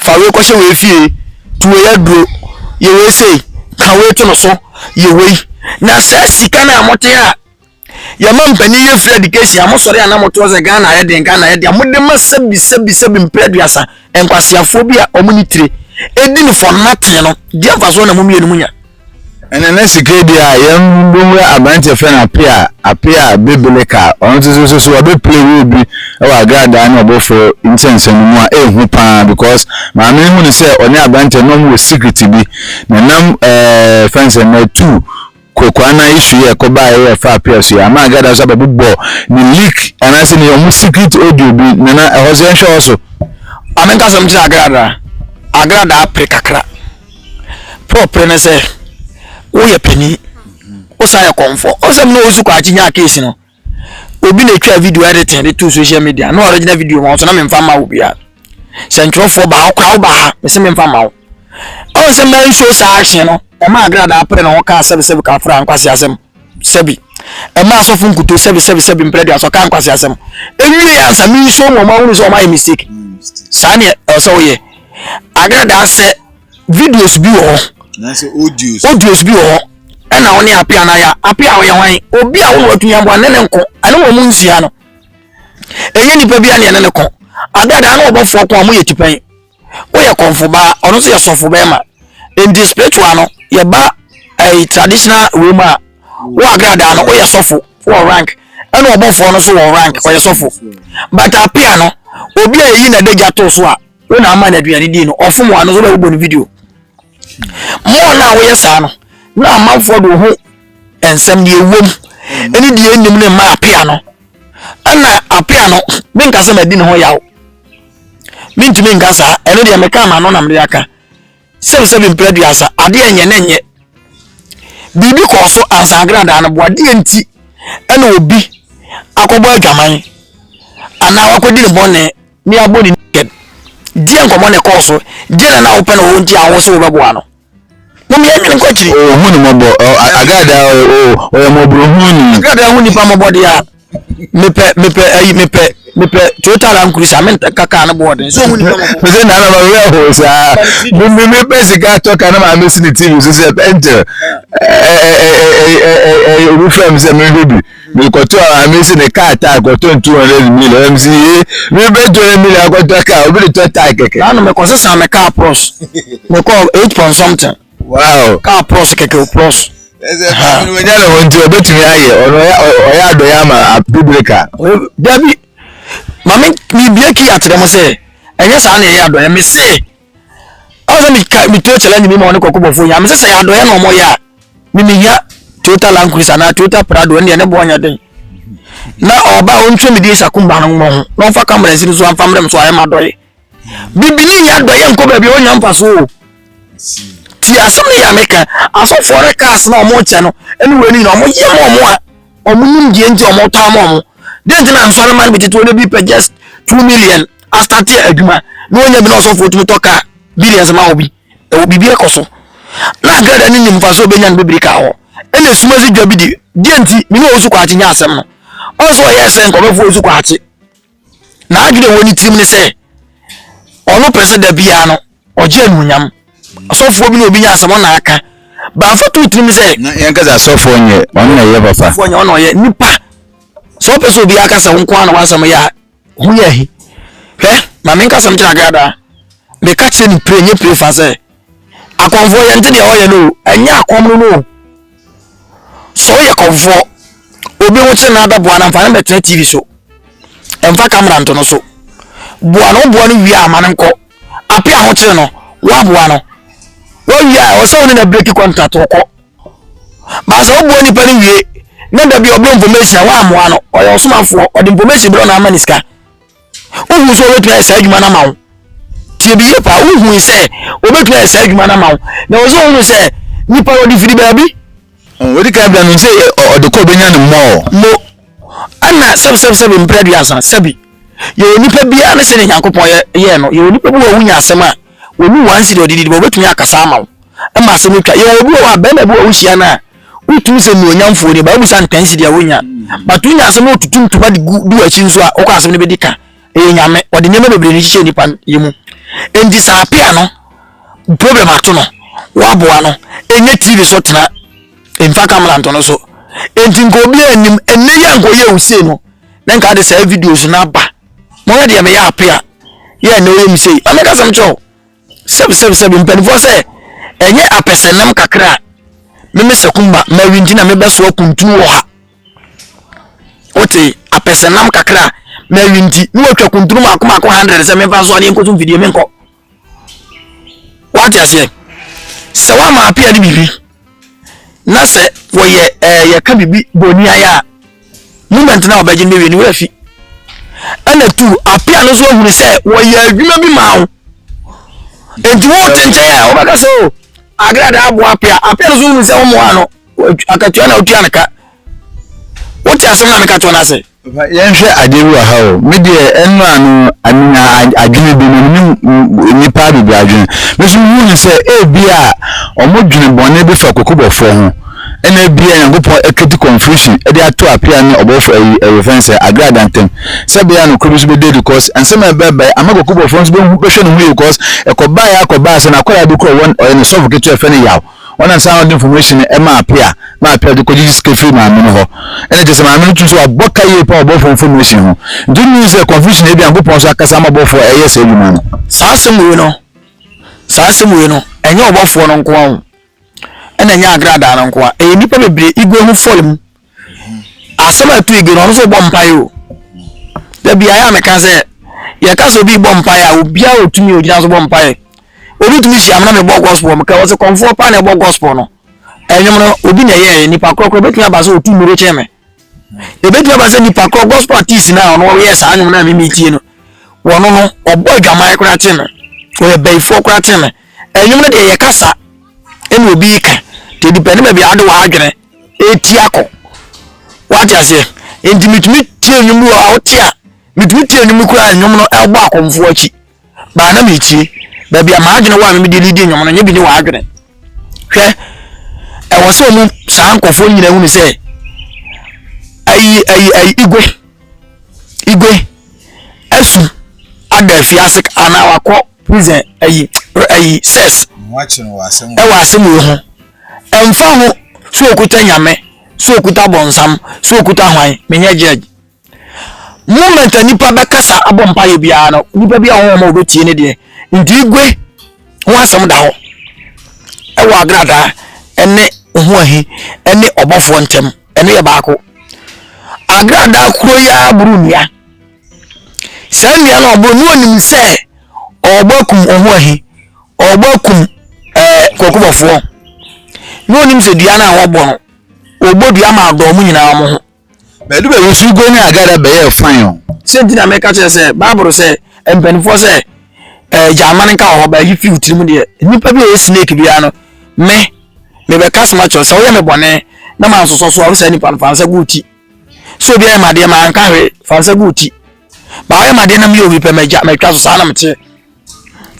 [SPEAKER 1] Fa wei kɔhyɛ wei fie, to wei aduro, yɛ wei sei, ka wei to no so, yɛ wei. Na saa sika no a mote a yɛma mpanin yɛ free education a mosɔre a na motoɔ sɛ Ghana ayɛ den, Ghana ayɛ den a mode ma sɛbi sɛbi sɛbi mprɛ aduasa nkwaseafoɔ bi a wɔn ne tire ɛdi no for nothing no, deɛ mfasoɔ na mo mmienu monya? Ɛna na
[SPEAKER 3] sika di a yɛn bɛwura aberanteɛ fɛ no apea apea bebele ka ɔno nso so so so ɔbɛpele wɔ bi wɔ agradaa ne ɔbɔfo nsɛnsɛm mu a ɛhu paa because maame no hu no sɛ ɔne aberanteɛ na ɔmo wɔ secret bi na nam ɛɛ fɛn sɛ na tu kokoa na isu yɛ kɔba yɛ fa apea so yɛ ama agradaa so abɛbobɔ ne leak anaasɛ ne ɔmo secret audio bi na na ɛhɔ so yɛnhwɛ hɔ so. Maame nka sɛ ɔmo
[SPEAKER 1] kyerɛ agradaa agradaa pere kakra. Paul pere no sɛ, Woyɛ panin, wosan yɛ kɔmfɔ. Ɔsɛm na ɔsu kwakye nyaa case no. Obi na ɛtwa video editing de to social media. Na original video ma wo so na memfa ma wo bia. Sɛ ntwerɛfoɔ baa ɔkora wo baa ha, mese memfa ma wo. Ɔnsɛ ma nsuo saa action no, ɛma agradaa pere ne ho kaa sɛbesɛbe ka fra nkwase asɛm. sɛbi ɛma asɔfo nkuto sɛbi sɛbi sɛbi mpere aduasa ɔka nkwasi asɛm ewie yɛ ansa mi nso mu ɔmo ahunu sɛ ɔmo ayɛ mistake saa ne ɛsɛ ɔyɛ agradaa sɛ videos bi wɔ hɔ
[SPEAKER 3] audios bi wɔ
[SPEAKER 1] hɔ ɛna ɔne apia na ya apia ɔyɛ hwan obi a wɔn atunya bɔ ne ne nko ɛne wɔn mu nsia no ɛnyɛ nipa bi a ne ɛne ne ko agradaa na ɔbɔfoɔ ko a mo yɛ tipɛn. woyɛ kɔmfobaa ɔno nso yɛ sɔfo bɛrima nti spiritual no yɛba ɛyi traditional wei mu a wo agradaa no woyɛ sɔfo wɔ rank ɛna ɔbɔfoɔ no nso wɔ rank ɔyɛ sɔfo but apia no obi a yɛyi na ɛda gya to so a wo na ama no aduane di no ɔfom wa no nso bɛbobɔ no video mɔɔ no a woyɛ saa no na amanfoɔ de wo ho nsɛm deɛ ɛwom ɛne deɛ ɛnim no mma apia no ɛna apia no menkasɛ madi ne ho yaw mentumi nka saa ɛno deɛ meka ma no na mede aka sɛm sɛ mempere aduasa adeɛ nyɛ ne nyɛ biribi kɔɔ so ansa agradaa no boa deɛ nti ɛna obi akɔbɔ adwaman anaa wakɔdi ne bɔne ne abɔ ne naked deɛ nkɔmmɔ ne kɔɔ so deɛ na na wopɛ na wɔn nti a wo so wobɛboa no Mom yɛ nwene nkɔ akyiri. Oh hu ne mɔbɔ
[SPEAKER 3] oh agradaa oh oh ɔyɛ mɔborohunu ni. Agradaa hu nipa mɔbɔ deɛ
[SPEAKER 1] a mepɛ mepɛ ayi mepɛ mepɛ Toyota Land Cruiser me nka kaa no bɔɔden so hu nipa mɔbɔ. Mese na na ma wura ho
[SPEAKER 3] saa. Mimi mi pɛ sika tɔ ka na ma me si ne TV so sɛ pɛntɛ. Ɛɛ ɛɛ ɛɛ ɛɛ ɛɛ obi fɛ mi sɛ mi hwɛ bi. mi kɔtɔ a mi si ne kaa tae kɔtɔ n two hundred million ɛm si ye mi bɛ two hundred million akɔtɔ kaa obi de tɔ tae kɛkɛ. Saa na mi kɔ sisan mi kaa
[SPEAKER 1] pros mi kɔ eight point something. Wow. Kaa
[SPEAKER 3] pros kɛkɛ o
[SPEAKER 1] pros. Ɛsɛ ɛfɛ
[SPEAKER 3] mi nya ne ho nti ɔbɛtumi ayɛ ɔno ɔyɛ adɔ yɛ ama abibirika. Dabi
[SPEAKER 1] maame mi bie ki akyerɛ mo sɛ ɛnyɛ saa na ɛyɛ adɔ yɛ mi se. ɔsɛ mi ka mi tuo challenge mi ma ɔne kɔkɔ bɔfo yɛ amesɛ sɛ yɛ adɔyɛ na ɔmo yɛ a mi mi hia toyota land cruiser anaa toyota prado ɛne yɛ ne bɔ ɔnyɛ den na ɔba a ɔntuo mi di esaku mba no mo ho na ɔnfa kamara nsi no so anfa mmerɛ mi so ayɛ ma adɔyɛ bibini yɛ adɔyɛ nkɔ baabi ɔnya nfa so o ti asɛm ne yɛ ameka asɔfoɔ ne kaas na ɔmo kyɛ no ɛne wɔ ɛni nyina ɔmo yɛ ma ɔmo a ɔmo nim deɛ nti ɔmo tɔ ama ɔmo deɛ nti na nsɔre ma no bi tete wɔ ne bi pɛ just two million asate adwuma na wɔnya bi na ɔsɔfoɔ tumi tɔ kaa billions ma obi ɛwɔ biribi ɛkɔ so na agrada ne nimfa sɛ ɔbɛnya no bɛbiri kaa hɔ ɛna esuma si dwa bi di deɛ nti mene ɔwɔ su kwaakye nya asɛm no ɔn sɛ ɔyɛ sɛ nkɔmɛfoɔ su kwaakye na adwene wɔ ne tirim ne sɛ ɔno pɛ sɛ da biara no ɔgye anuonyam ɔsɔfoɔ bi na obi nya asɛm ɔna aka bamfa to tirim sɛ yɛn kasa asɔfoɔ
[SPEAKER 3] nyɛ ɔno na ɛyɛ papa asɔfoɔ nyɛ ɔna ɔyɛ nipa
[SPEAKER 1] sɛ ɔpɛ sɛ obi aka sɛ wo nko ara na wasɛm yɛ a Hom yɛ he? Hwɛ, ma menka asɛm nkyerɛ Agada a, meka kyerɛ no pire, nyɛ pire fa sɛ, Akɔmfoɔ, yɛnte deɛ ɔyɛ no o, ɛnyɛ akɔm no no o. Sɛ woyɛ kɔmfoɔ, obi ho kyere no ara bɛboa no, mfa no mmɛtena TV so, mfa camera nto no so. Boa no, woboa no wie a, ma no nkɔ. Ape ahokyere no, woaboa no, woawie a, ɛwɔ sɛ wo ne no abreki kɔntrate, ɔkɔ. Baasa woboa nipa no wie na da bi ɔbrɛ information a woammoa no ɔyɛ ɔsomafoɔ ɔde information brɛ na ama ne sika wohu sɛ ɔbɛtumi ayɛ saa adwuma no ama wo tie bi yie paa wohu sɛ ɔbɛtumi ayɛ saa adwuma no ama wo na wɔ sɛ wohunu sɛ nipa no ɔde firi baabi wɔde ka bra
[SPEAKER 3] no sɛ ɔde kɔ ɔbɛnya no mmɔɔ mo ɛna
[SPEAKER 1] sɛbsɛbsɛbi mprɛ duasa sɛbi yɛwɔ nipa biara ne sɛ ne nyankopɔn yɛɛ no yɛwɔ nipa bi wɔ wonya asɛm a wɔnu wansi de ɔde didi bɛ wobɛtumi akasa ama wo ma asɛm no twa. Yɛwɔ obi wɔ hɔ a, bɛrima bi wɔ a wohyia no a, wotumi sɛ nuonyamfoɔ ni, ba wobisa no pɛnsi deɛ wonya. But wonya asɛm no wotutu ntoma de gu du akyi nso a, wokɔ asɛm no bɛdi ka. Ɛyɛ nyame, ɔde nneɛma bebree no hyehyɛ nipa yɛ mu. Enti saa apea no, problem ato no, woaboa no, ɛnyɛ TV so tena, mfa kamera nto no so. Enti nka obi anim, ɛnɛ yɛ nka ɔyɛ wo sei no, na nka de saa videos no aba. Mɔyɛ deɛ meyɛ apea, yɛ ɛnɛ ɔyɛ me sei, amɛka sɛm kyɛw. Sɛbsɛbsɛb mpanimfoɔ sɛ ɛnyɛ apɛsɛnam kakra a meme Sakumba Mary nti na mebɛsoa kuntunu wɔ ha wote apɛsɛnam kakra a Mary nti ne watwa kuntunu maako maako hundred sɛ memfa nsoa ne nkɔso mfidie menkɔ wate aseɛ sɛ woama apea ne biribi na sɛ wɔyɛ ɛɛ yɛka biribi bɔ ni ayɛ a moment na wɔbɛgye no bɛwie no wɔafi ɛna tu apia no nso ahunu sɛ wɔyɛ adwuma bi ma wo nti wote nkyɛn a wɔbɛka sɛ o oh, agrada aboa apia apia no nso hunu sɛ wɔmmoa no akatua na wotua no ka wote asɛm na meka toɔ no ase Yɛnhwɛ ade bi
[SPEAKER 3] wɔ ha o. Me deɛ ɛno ano menya adwene bi na menim nnipa bebree adwene. Me nso mehu no sɛ ebi a wɔdwene bɔne bi fa kokobɔfoɔ ho. Ɛna ebi a Nyankopɔn akati confusion de ato apia ne ɔbɔfo ayi ɛyɛfɛn sɛ agrada ntam. Sɛ bɛyɛ a nokorɛ bi nso bɛda adi cause nsɛm a ɛbɛbae ama kokobɔfoɔ nso bɛhu bɛhwɛ ne ho yie cause ɛkɔbaeɛ ara kɔbaeɛ sɛ n'akwadaa bi kura ɔyɛ ne sɔfo ketewa yɛfrɛ no Yaw. Ɔnam saa na ɔde information no ɛma apea ma apea de kɔgyegye sika firi maame no hɔ ɛna kyerɛ sɛ maame no tum sɛ wabɔ ka yie paa wɔ bɔfoɔ information ho nti wonnim hu sɛ confusion ebi Nyankopɔn nso akasa ama bɔfoɔ ɛyɛ saa adwuma no. Saa asɛm wei no
[SPEAKER 1] saa asɛm wei no ɛnyɛ ɔbɔfoɔ no nkoa o ɛna ɛnyɛ agradaa no nkoa ɛyɛ nnipa bebree ego ho fɔre mu. asɛm a ɛto egu no ɔno nso bɔ mpae o da bi ayɛ a meka sɛ yɛka sɛ obi bɔ mpae a obiara otumi ogyina so bɔ mpae obi tumi hyia me na mebɔ gospel meka wɔ sɛ kɔmfoɔ paa na ɛbɔ gospel no ɛnwom no obi na ɛyɛ nipa korɔkorɔ ebetumi aba sɛ otu mmiri kyɛn me ebetumi aba sɛ nipa korɔ gospel artist na ɔno ɔyɛ saa nwom na mimi tie no wɔn no ɔbɔ adwaman koraa kyɛn me ɔyɛ bɛyifoɔ koraa kyɛn me ɛnwom no deɛ yɛ kasa ɛna obi ka te dipɛ ne baabi a ade wɔ adwene. ɛti akɔ wate aseɛ nti metumi tie nnwom bi wɔ a wote a metumi tie nnwom koraa nnwom no ɛbɔ akɔmfoɔ akyi baa na metie baabi a maadwene wɔ a memede lidi nnwom no nyɛ bi ne wɔadwene hwɛ ɛwɔ sɛ ɔmu saa nkɔfoɔ nyina hunu sɛ ayi ayi ayi igwe igwe asu ada afie ase anaa wakɔ prison ayi ayi sɛs ɛwɔ asɛm
[SPEAKER 3] wei ho
[SPEAKER 1] Ɛmfa ho sɛ
[SPEAKER 3] ɔkuta
[SPEAKER 1] Nyame, sɛ ɔkuta bɔnsam, sɛ ɔkuta hwan, menyɛ judge. Moment a nipa bɛkasa abɔ mpaeɛ biara no, nipa bi a wɔn a wɔbɛtie ne deɛ. Nti igwe ho asɛm da hɔ ɛwɔ agradaa ɛne ho ahi ɛne ɔbɔfoɔ ntɛm ɛno yɛ baako. Agradaa kuro yi ara boro nnua. Saa nnua no ɔboro no ɔnim sɛ ɔbɔ akum ɔho ahi Ɔrebɔ akum ɛɛ kɔkɔbɔfoɔ na onim sɛ dua no a wɔbɔ no wɔbɔ dua ma adɔ wɔn nyinaa wɔn ho. Bɛdu baabi nso
[SPEAKER 3] Ugo ne Agada bɛyɛɛ fine o. Sɛ nti na meka kyerɛ
[SPEAKER 1] sɛ Bible sɛ mpanimfoɔ sɛ ɛɛ gyaama no nka wɔ hɔ baayi fi tirim deɛ nnipa bi a ɛyɛ snake biara no me mebɛka soma kyerɛ sɛ woyɛ me bɔne na ma nsosɔ so a wosaa nipa no fa nsa gu ti sɛ obi ayɛ madeɛ ma anka hwee fa nsa gu ti ba woyɛ madeɛ na meyɛ obi pɛ magya matwa so saa na meteɛ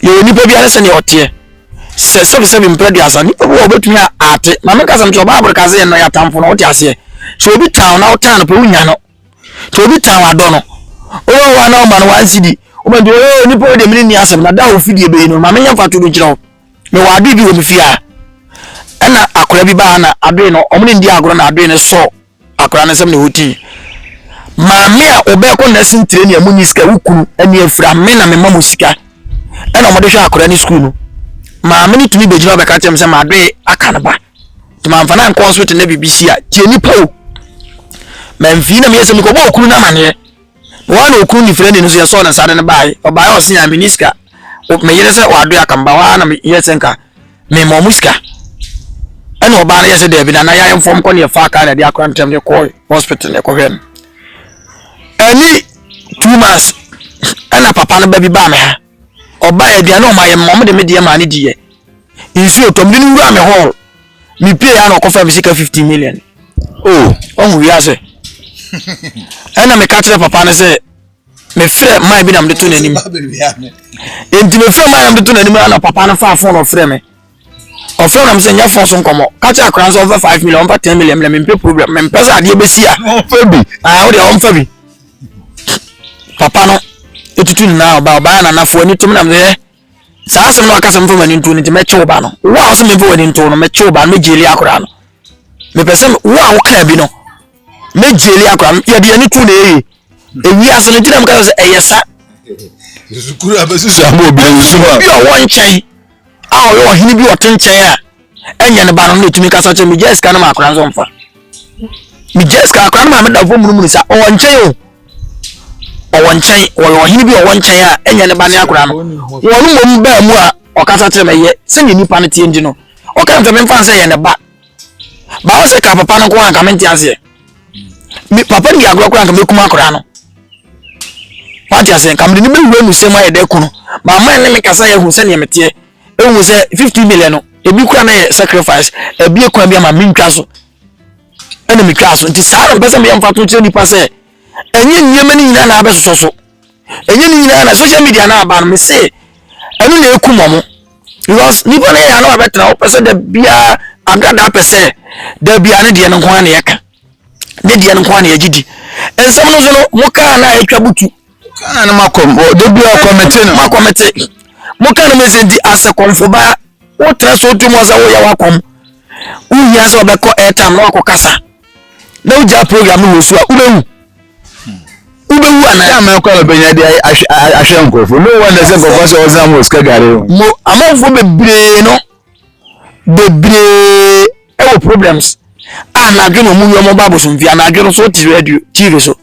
[SPEAKER 1] Yɛwɔ nipa biara ne sɛdeɛ ɔteɛ. Sɛ sɛbisɛbi mpɛ duasa, nipa bi wɔ ɔbɛtumi a ate. Maame kasa no kyerɛ Bible ka sɛ yɛnnɔ yɛatamfo no, wote aseɛ. Sɛ obi tan wo na wotan no pɛ, wonya no. Sɛ obi tan wadɔ no, wowɔ hɔ a na woma no wansi di. Woma nti, oh, nipa wo deɛ mene nni asɛm, na da a ofidie bɛyi no, maame nyɛ mfa to bi nkyerɛ wo. Mewɔ adoe bi wɔ me fie a, ɛna akora bi baa na adoe no, ɔmo ne ndi agorɔ na adoe no sɔɔ. Akwadaa no nsɛm na ɛwɔ ti. Maame a ɔbɛkɔ nursing training a munyi sika wo kunu ani afira me na mema mo sika ɛna wɔde hwɛ akwadaa no sukuu no maame no tumi bɛgyina bɛka kyerɛ me sɛ madoe aka no ba nti mamfa no ankɔ hospital na biribi si a tie nipa o mamfii na meyɛ sɛ mekɔbɔ okunu no amaneɛ Wɔn na okunu nifirani no nso yɛsɔɔ no nsa de no bae. Ɔbae a ɔse a menni sika. Me yere sɛ wadoe aka me ba hɔ ara na meyɛɛ sɛ nka mema ɔmo sika. Ɛna ɔbaa no yɛɛ sɛ daabi na na yɛayɛ mfɔm kɔ ne yɛfaa kaa na ɛde akora ntɛm de kɔɔ hospital na ɛkɔhwɛɛ no. Ɛni two months ɛna papa no ba bi baa me ha. Ɔbaeɛ, aduane a ɔmayɛ me ma mede me deɛ maa no diiɛ. Nsuo tɔ, mede no wuraa me hall. Mepiee a na ɔkɔfa me sika 15 million. Oh. Ɔhu wiase. Ɛna meka kyerɛ papa no sɛ mefrɛ man bi na mede to n'anim. Enti mefrɛ man na mede to n'anim na papa no faa fon ɔfrɛ me. ɔfrɛ nam sɛ nyɛ fon so nkɔmmɔ ka kyerɛ akora nso ɔmfa five million ɔmfa ten million mmerɛ mempɛ program mempɛ sɛ adeɛ bɛsi a ɔmfa bi ah,
[SPEAKER 3] wodeɛ ɔmfa bi
[SPEAKER 1] papa no ɛtutu nna ɔba ɔbaa nanafoɔ ani tom nam sɛ saa asɛm no ɔka sɛ mfa w'ani nto no nti mɛkye wo ba no wo a wo sɛ memfa w'ani nto no mɛkye wo ba no mɛgyeli akora no mepɛ sɛ wo a wokaa bi no mɛgyeli akora no yɛde ani to na ɛyɛ ewia ase no gyina mu kasa sɛ ɛyɛ sa.
[SPEAKER 3] sukuu a bɛsi so ama obi nsu a. obi a ɔwɔ nkyɛn
[SPEAKER 1] a ɔyɛ ɔhene bi ɔte nkyɛn a ɛnyɛ ne ba no na otumi kasa kyɛ megya sika no ma akora nso mfa megya sika akora no ma meda fo munumunu sa ɔwɔ nkyɛn o ɔwɔ nkyɛn ɔyɛ ɔhene bi ɔwɔ nkyɛn a ɛnyɛ ne ba ne akora no wɔn mmom baa mu a ɔkasa kyerɛ mɛ yɛ sɛdeɛ nipa no teɛ nti no ɔka ntɛmɛ nfa sɛ yɛ ne ba baawa sɛ ka papa no nko anka mente aseɛ me papa no di agorɔ koraa nka mɛkum akoraa no wate aseɛ nka mede no bɛwura mu sɛm ayɛ dɛ ko no maama ne me kasa yɛhu sɛdeɛ meteɛ ɛhu sɛ 50 million no ebi kora na yɛ sacrifice ebi ekwan bi ama mentwa so ɛna metwa so nti saa na mpɛ sɛ meyɛ mfa to kyerɛ nipa sɛ ɛnyɛ nneɛma no nyinaa na abɛsosɔ so ɛnyɛ ne nyinaa na social media na aba no me se ɛno na ekum ɔmo because nipa no yɛ ano abɛtena hɔ pɛ sɛ da biara agradaa pɛ sɛ da biara ne deɛ no nko ara na yɛka ne deɛ no nko ara na yɛgye di nsɛm no so no mo kaa na atwa butu kaa no makɔ
[SPEAKER 3] da biara kɔmete no makɔmete
[SPEAKER 1] mo kaa no mo sɛ nti asɛ kɔmfo baa wotena so tu mu sɛ woyɛ wakɔm wohia sɛ ɔbɛkɔ airtime na wakɔ kasa na wogyaa program no wɔ su a wobɛwu wobɛwu anaa. yà máa kọ́ ẹ̀ bẹ̀yẹn di
[SPEAKER 3] ahwẹ́ nkurọ̀fọ̀ ní wọn ẹsẹ̀ nkurọ̀fọ̀ sẹ ọ̀sán mu òsìkà gàrí. mo amanfo
[SPEAKER 1] bebree no bebree ɛwɔ problems a n'adwene wɔn yɛ wɔn ba abosomfie a n'adwene so ti radio tv so.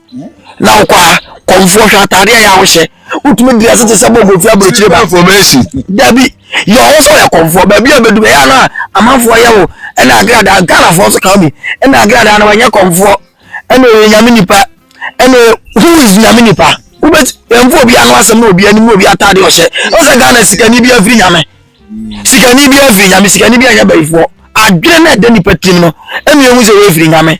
[SPEAKER 1] na wokɔ a kɔmfoɔ hwɛ ataadeɛ a yɛ a wohyɛ wotumi diri ase te sɛ bɔ kofi aburokyire ba dabi yɛ ɔwɔ sɛ ɔyɛ kɔmfoɔ baabi a bɛdu ɛyɛ ano a amanfoɔ yɛ wo ɛna agradaa ghanafoɔ nso ka bi ɛna agradaa no wɔnyɛ kɔmfoɔ ɛna ɔyɛ nyame nipa ɛna who is nyame nipa wobɛti ɛmfo obi ano asɛm na obi anim na obi ataadeɛ ɔhyɛ ɔsɛ ghana sikani bi afiri nyame sikani bi afiri nyame sikani bi anyɛ bayifoɔ adwene na ɛda nipa tim no ɛna ehu sɛ wɔafiri nyame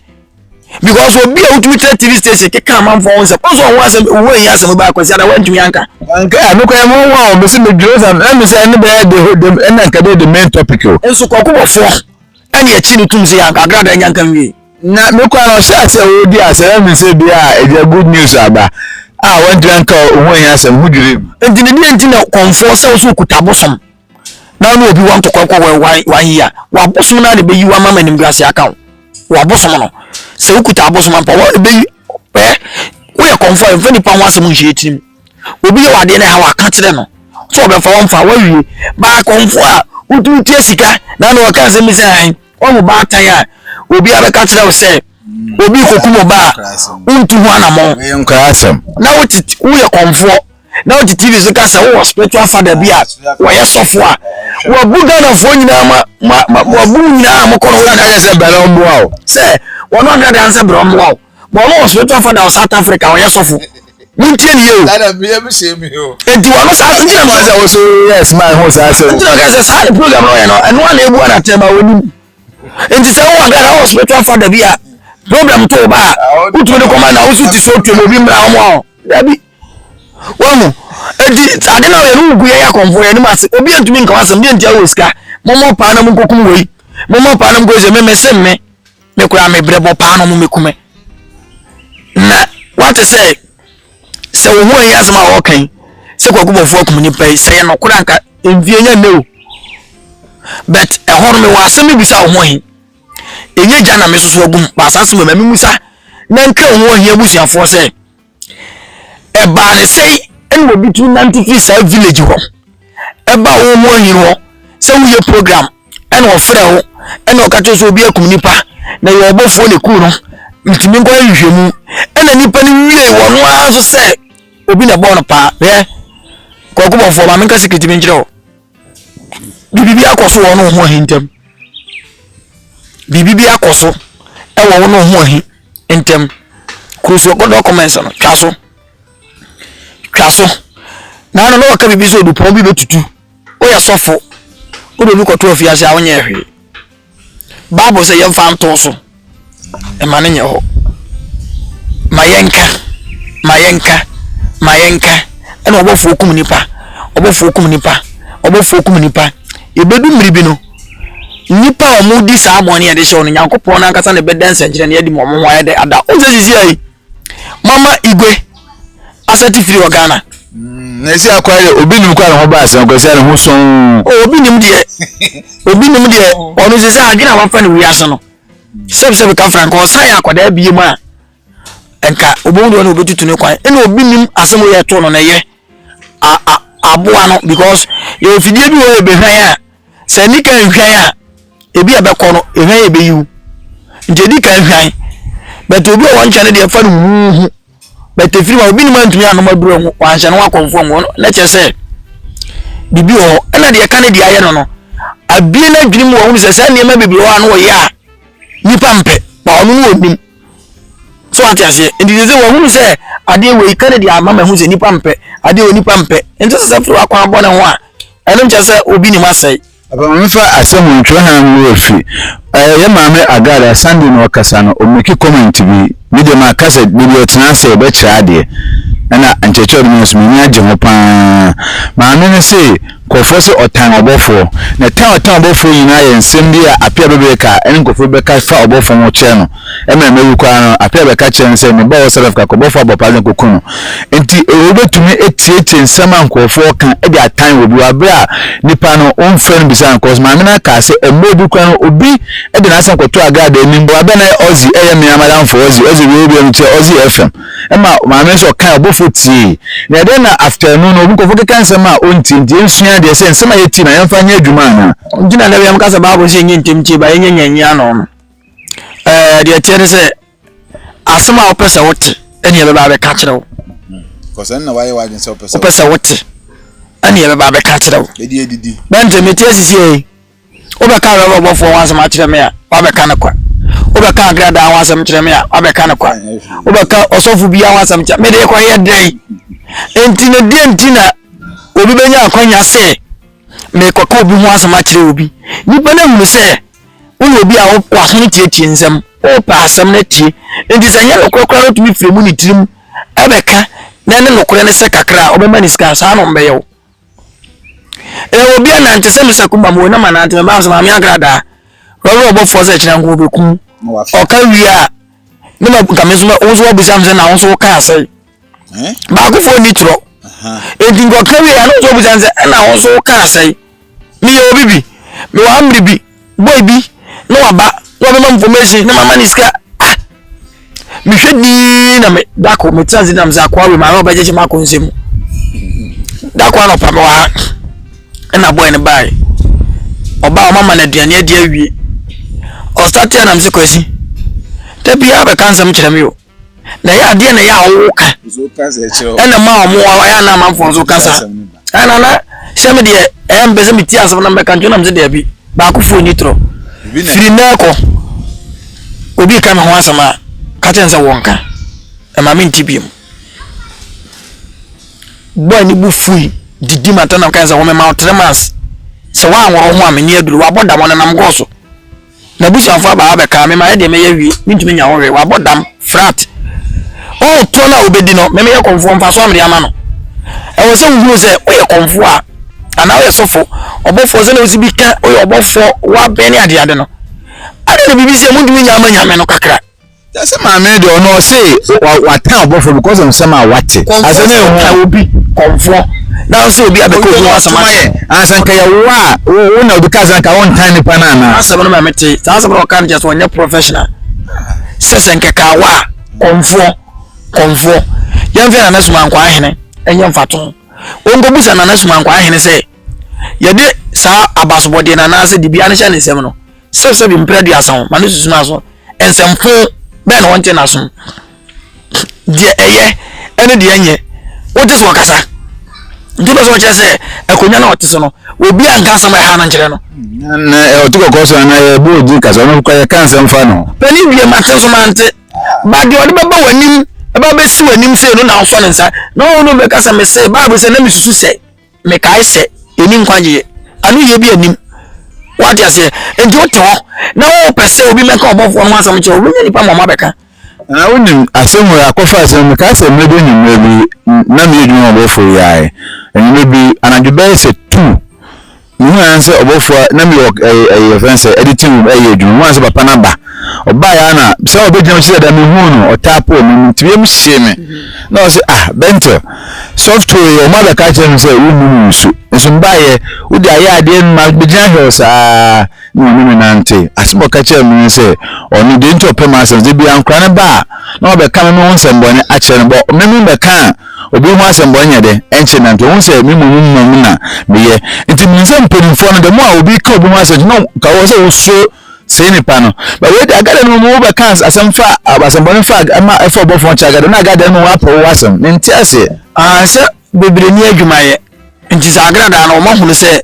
[SPEAKER 1] because obi a wotumi kyerɛ tv station keka amanfoɔ ho nsɛm ɔsɛ ɔho asɛm owó ɛnyɛ asɛm baa kwasi ada wantumi anka. nka ɛno kora ɛho
[SPEAKER 3] ho a ɔbɛsi mi dwere sɛ ɛmi sɛ ɛno bɛyɛ de ho dem ɛna nka bɛyɛ the main topic o. nso kɔkɔ bɔ fɔ
[SPEAKER 1] ɛna ɛkyi ne tum sɛ yɛ anka agrada ɛnya nka nwie. na mi kora na ɔhyɛ
[SPEAKER 3] asɛ ɔdi asɛ ɛmi sɛ bi a ɛgya good news aba a wantumi anka ɔho ɛnyɛ asɛm ho dwere mu. nti ne deɛ nti na
[SPEAKER 1] kɔnfoɔ sɛ ɔsɛ okuta bosom. na ɔne obi wɔ ntɔkwa kɔ wɔ one one year wabosom no a na ebeyi wo ama ma animguase aka wo wabosom no sɛ wokuta abosom ampa wɔn na ebeyi ɛ woyɛ kɔnfɔ a nfa nipa ho asɛm nhyɛ etiri mu obi yɛ wadeɛ na ɛha waka kyerɛ no sɛ ɔbɛfa wɔn fa wɔawie baa kɔnfɔ a wotumi tua sika na na ɔka asɛm bi sɛ ɛn wɔn mu baatan a obi abɛka kyerɛ wo sɛ obi kokum ɔbaa wontu ho anamɔ na
[SPEAKER 3] wote woyɛ
[SPEAKER 1] kɔnfoɔ. na wote tv so ka sɛ wowɔ spiritual father bi a wɔyɛ sɔfo a wabu ghanafoɔ nyinaa ma ma ma wabu mu nyinaa a mokɔ no wona kakyɛ sɛ bɛrɛ mmoa o
[SPEAKER 3] sɛ wɔne ɔdena
[SPEAKER 1] dan sɛ berɛ mmoa o bɔ ɔno wɔ spiritual father wɔ south africa wɔyɛ sɔfo montie ne yɛ o
[SPEAKER 3] enti wɔno saa ntina
[SPEAKER 1] ma sɛ wɔso yɛ sma
[SPEAKER 3] ho saa sɛ ntina ka sɛ saa ne program
[SPEAKER 1] no ɔyɛ no ɛno a na ɛbu anatɛ ma wɔnim enti sɛ wowɔ ghana wɔ spiritual father bi a problem to wo ba a wotumi de kɔma na woso ti so tuam obi mmra ɔmo a dabi Wahu? Enti, ade no a yɛne wo gu yɛyɛ akɔmfoɔ, yɛne mu ase. Obi antumi nka w'asɛm, deɛ nti a wowɔ sika? Mommɔ paa na monkɔkum wei. Mommɔ paa na monkɔyɛ sɛ me mese me, me koraa me brɛ bɔ paa na ɔmo mekume. Na wate sɛ, sɛ wo ho ɛnyɛ asɛm a wɔka yi, sɛ kwaku bɔfoɔ akum nipa yi, sɛ yɛ nɔkorɛ anka mfie nyɛ nnɛ o. But ɛhɔ no mewɔ asɛm bi bisa wo ho ahi. Ɛnyɛ gya na mesoso agum, baasa asɛm wɔ mɛ, me musa na nkra wo ho ahi abusuafoɔ sɛ, ɛbaa ne sɛn ɛna obi tumi nante firi saa village hɔ ɛba wo ho ahi hɔ sɛ woyɛ program ɛna ɔfrɛ wo ɛna ɔka kyerɛ sɛ obi akum nipa na yɛ ɔbɔfoɔ na ɛku no ntumi nkɔ nhwehwɛ mu ɛna nipa no wie wɔ no ara nso sɛ obi na ɛbɔɔ no paa yɛ kɔkɔ bɔfoɔ ma menka sikiriti bi nkyerɛ wo biribi akɔ so wɔ no ho ahi ntam biribi akɔ so ɛwɔ wo no ho ahi ntɛm kuru so kɔdɔ comments no twa so twa so na ano na wɔka biribi sɛ odupɔn bi bɛtutu woyɛ sɔfo wode obi kɔto afiase a wonyɛ hwee bible sɛ yɛmfa nto so ɛma no nyɛ hɔ ma yɛnka ma yɛnka ma yɛnka ɛna ɔbɔfoɔ kum nipa ɔbɔfoɔ kum nipa ɔbɔfoɔ kum nipa yɛbɛdu mmiri bi no Nnipa a wɔredi saa bɔne a yɛde hyɛ wɔn no, Nyankopɔn no ankasa na ɛbɛda nsɛnkyerɛnne adi ma wɔn ho ayɛ dɛ ada. Wɔn sɛ sisi ayi, mama igwe asɛte firi wɔ Ghana. Mm, na esi
[SPEAKER 3] akwa yɛ obi nim kwa ne ho ba asɛn kwa sia ne ho sɔn. O obi nim deɛ,
[SPEAKER 1] obi nim deɛ ɔno sisi adwene a wafa no wiase no. Sɛbisɛbi ka frank ɔsan yɛ akwadaa bie mu a nka obohu deɛ ɔno obetutu ne kwan. Ɛna obi nim asɛm yɛ to no na ɛyɛ aboa no because yɛ ofidie bi wɔ yɛ behwan a. sɛ nni kan nhwan a ebi a ɛbɛkɔ no ehwan yɛ bɛyi wo nti edi kan hwan bɛtɛ obi a wɔn nkyɛn no deɛ ɛfa no huuhu bɛtɛ firi ma obi nim antumi anom aduro ho wɔanhyɛ no akɔnfo ho na kyerɛ sɛ biribi wɔ hɔ ɛna deɛ ɛka ne deɛ ayɛ no no abie no adwene mu wɔn sɛ saa nneɛma bebree wɔ a no wɔyɛ a nipa mpɛ ma ɔno no wɔnim So wate aseɛ? Nti sɛ sɛ wahunu sɛ adeɛ wei ka ne deɛ ama mahu sɛ nipa mpɛ adeɛ wɔ nipa mpɛ nti sɛ sɛ firi wakwan bɔ ne ho a ɛno nkyɛ sɛ obi ne mu asɛe. Aba maame fa asɛm
[SPEAKER 3] ho ntwerɛ ha ngu afi ɛɛ yɛ maame agada Sunday na ɔkasa no ɔmeki comment bi me deɛ maka sɛ dabi ɔtena ase ɔbɛkyerɛ adeɛ ɛna nkyerɛkyerɛ ɔde ma nso m'ani agye ho paa maame no se Nkurɔfoɔ se ɔtan ɔbɔfoɔ. Na tan a ɔtan ɔbɔfoɔ nyinaa yɛ nsem bi a Apia bebree ka ɛne nkurɔfoɔ bi bɛka fa ɔbɔfoɔ ho kyerɛ no. Ɛmmerɛ no awu koraa no, Apia bɛka kyerɛ no sɛ, Me ba Ɔsɛrɛf ka kɔ ɔbɔfoɔ abɔpaa de kɔku no. Enti Oweru bɛtumi atietie nsem a nkurɔfoɔ ka de atan obi wɔ aberɛ a nipa no womfrɛ no bisaa no cos maame no akaa se mmerɛ bi koraa no obi de n'asem kɔtoo Agradaa anim. Wabɛn ayɛ Ɔzi ɛyɛ mmea madamfoɔ Ɔzi Ɔzi wei obiara no tia Ɔzi FM. ɛma maame no sɛ ɔkae ɔbɔfo tiei. Na ɛdɛn na after ɛno no obi nkurɔfo keka nsɛm a ontie nti yensua adeɛ sɛ nsɛm a yetie na yɛmfa nyɛ adwuma anaa? Nti na da biara meka sɛ
[SPEAKER 1] Bible sɛ yɛnyɛ ntɛm tie ba yɛnyɛ nya nyi ano no. Ɛɛ deɛ ɛteɛ ne sɛ asɛm a wopɛ sɛ wote ɛne ɛbɛba abɛka kyerɛ wo. Because ɛno na
[SPEAKER 3] wayɛ w'adwene sɛ wopɛ sɛ wote. Wopɛ sɛ wote
[SPEAKER 1] ɛne ɛbɛba abɛka kyerɛ wo. Ɛdi ɛdidi. Bɛnte
[SPEAKER 3] mete asisi
[SPEAKER 1] ɛyi. Wobɛka Awuraba ɔbɔfoɔ ho asɛm akyerɛ me a, woabɛka no kwa. Wobɛka Agradaa ho asɛm kyerɛ me a, woabɛka no kwa. Wobɛka ɔsɔfo biara ho asɛm kyerɛ me, mede rekɔyɛ dɛn? Enti no, deɛ nti na obi bɛnya akwanya sɛ mekɔka obi ho asɛm akyerɛ obi? Nnipa no ahunu sɛ woyɛ obi a w'aso no tietie nsɛm, wopɛ asɛm no atie. Enti sɛ nyɛ nokorɛ koraa no tumi firi mu ne tirim ɛbɛka na ɛne nokorɛ no sɛ kakra a, ɔbɛma ne sika. Saa na wɔbɛyɛ wo. Ɛyɛ obi anante sɛ Mr. Kumba mo na manante me baa so maame agradaa wɔwerɛ ɔbɔfoɔ sɛ kyerɛ nko bɛkum ɔka wie a ne ma nka me nso wo nso wabisa me sɛ na wo nso wokaa sɛ baakofoɔ ni torɔ enti nka ɔka wie a ne nso wabisa me sɛ ɛna wo nso wokaa sɛ meyɛ obi bi mewɔ amere bi Boy bi na waba na wabɛma me information na mama ne sika ah mehwɛ dii na me dako me tena se nam sɛ akoa wei maame ɔbɛgyegye m'ako nsɛ mu dako anɔpa me wɔ ha ɛna boy no bae ɔbaa ɔmama no aduane adi awie ɔsate a nam sɛ kwasi da biara bɛka nsɛm kyerɛ me o Na ɛyɛ adeɛ na ɛyɛ a wɔwɔ ka ɛna ma wɔn wɔn ayɛ na amanfoɔ nso kasa ɛna na hyɛ mi deɛ ɛyɛ mpɛ sɛ mi ti asɛm na mbɛka ntwɛn na mi sɛ deɛ bi baako fo ni torɔ firi mɛ kɔ obi ka mi ho asɛm a kakyɛ nsɛ wɔn ka ɛma mi nti bi mu bɔɔl ni bu fui didi ma tɛnam kan sɛ wɔn mɛ ma ɔtɛnɛmas sɛ wɔn ahoro ho a mi ni aduru wɔabɔ dam ɔnenam gɔɔ so. N'abusuafo aba hɔ abɛka me ma ɛdeɛ mɛyɛ awie mentumi nya hɔ hwee wabɔ dam frat oh toɔ no a wobɛdi no me meyɛ kɔmfoɔ mfasoɔ a mede ama no ɛwɔ sɛ wohunu sɛ woyɛ kɔmfoɔ a anaa woyɛ sɔfo ɔbɔfoɔ sɛdeɛ wosi bi ka woyɛ ɔbɔfoɔ wabɛn ne adeade no adɛn na biribi sɛ montumi nya ama nyame no kakra Yɛse maame
[SPEAKER 3] no deɛ ɔno ɔse watan ɔbɔfoɔ because of nsɛm a wate asɛ ne ho ka obi
[SPEAKER 1] kɔmfoɔ na ɔsɛ obi abɛka obi ho asɛm ayɛ ansa nka yɛwo
[SPEAKER 3] a wo na obi ka sɛ nka wontan nipa no anaa asɛm no ma mete saa
[SPEAKER 1] asɛm no ɔka no kyɛ sɛ ɔnyɛ professional sɛ sɛ nkɛka wo a kɔmfoɔ kɔmfoɔ yɛmfɛ nana suma nkɔ ahene ɛnyɛ mfato wɔnkɔbusa nana suma nkɔ ahene sɛ Yɛde saa abasobɔdeɛ no anaasɛ dibea no hyɛ ne nsam no, sɛbsɛbi mprɛ aduasa ho ma no susu n'aso. Nsɛmfo bɛn na wɔnte n'asom? Deɛ ɛyɛ ne deɛ ɛnyɛ, wogye sɛ ɔkasa. Nti wopɛ sɛ wɔkyerɛ sɛ akonnwa no a ɔte so no, obi a nka asɛm a ɛha no nkyerɛ no. Na ɔte
[SPEAKER 3] kɔkɔɔ so anaa yɛbɔ ogye kasa ɔno kɔ yɛka nsɛm fa no. Panin wie mate nso
[SPEAKER 1] mante. Ba deɛ ɔde bɛba w'anim ɛbɛ bɛsi w'anim sei no na wosɔ ne nsa na ɔno bɛka sɛ mese Bible sɛ na mesusu sɛ. Mekae sɛ, Yenni nkwagyeɛ. Anoyie bi nnim. Woate aseɛ? Enti wote hɔ na wopɛ sɛ obi mmɛka ɔbɔfoɔ no ho asɛm kyerɛ wo. Wobɛnya nnipa mmɔma abɛka. Na wonim,
[SPEAKER 3] asɛm wei, akɔfa asɛm wei, mekae sɛ mmerɛ bi anwummerɛ bi, na meyɛ adwuma ma ɔbɔfoɔ yi ara ɛ. Anwummerɛ bi, anadwo bɛyɛ sɛ two, mehunu ara ne sɛ ɔbɔfoɔ, na mewɔ ɛyi, ɛyi, yɛfrɛ no sɛ, editing room, ɛreyɛ adwuma. Mehunu ara ne sɛ papa no aba. ɔbaeɛ a na sɛ ɔbɛgyina mu sɛ dɛ mehuu no ɔtaa pɔ me mu nti wiem hyee me mm-hmm. na ɔsɛ ah bɛntɛ software yɛ ɔmo abɛka kyerɛ me sɛ wonnu mu nsu nso mbaeɛ wode ayɛ adeɛ no ma bɛgyina hwɛ saa na ɔne me nante asɛm ɔka kyerɛ me sɛ ɔno deɛ nti ɔpɛ ma asɛm sɛ bia nkora no ba a na ɔbɛka me ho nsɛmbɔne akyerɛ no bɔ me me bɛka a obi ho asɛmbɔne yɛ dɛ ɛnkyɛ nante ɔhu sɛ me mmom mmom na meyɛ nti menim sɛ mpanimfoɔ no dɛ mo a obi ka obi ho asɛm no ka wɔ sɛ wosuro Sei ne pa no. But wei de agada no mu wobɛka asɛm fa asɛmbɔne fa ɛma ɛfa ɔbɔfoɔ nkyɛ agada na agada no mu wapɛ wo asɛm. Mente aseɛ. Ah sɛ
[SPEAKER 1] bebree ni adwuma yɛ. Nti sɛ agradaa no wɔn ahunu sɛ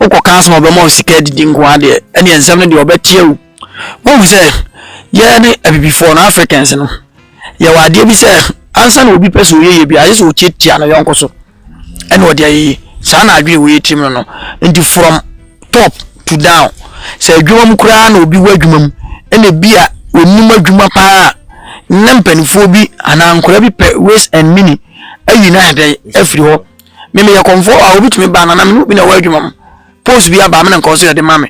[SPEAKER 1] wokɔ ka asɛm a ɔbɛma wo sika adidi nko ara deɛ ɛne nsɛm no deɛ ɔbɛteɛ wo. Wohu sɛ yɛn ne abibifoɔ no Africans no yɛwɔ adeɛ bi sɛ ansa na obi pɛ sɛ ɔyɛ yɛ bi agye sɛ ɔtiatia ne yɔnko so. ɛna ɔde ayɛ yi saa na adwene wɔ yɛ tirim no no nti from top to down sɛ adwuma mu koraa na obi wɔ adwuma mu ɛna bi a onim adwuma paa na mpanimfoɔ bi anaa nkwadaa bi pɛ waste and mini ayi na adɛ afiri hɔ mmemme yɛ kɔnfɔ a obi tumi ba na na mene obi na ɛwɔ adwuma mu post bi aba amena nkɔɔ so yɛde ma me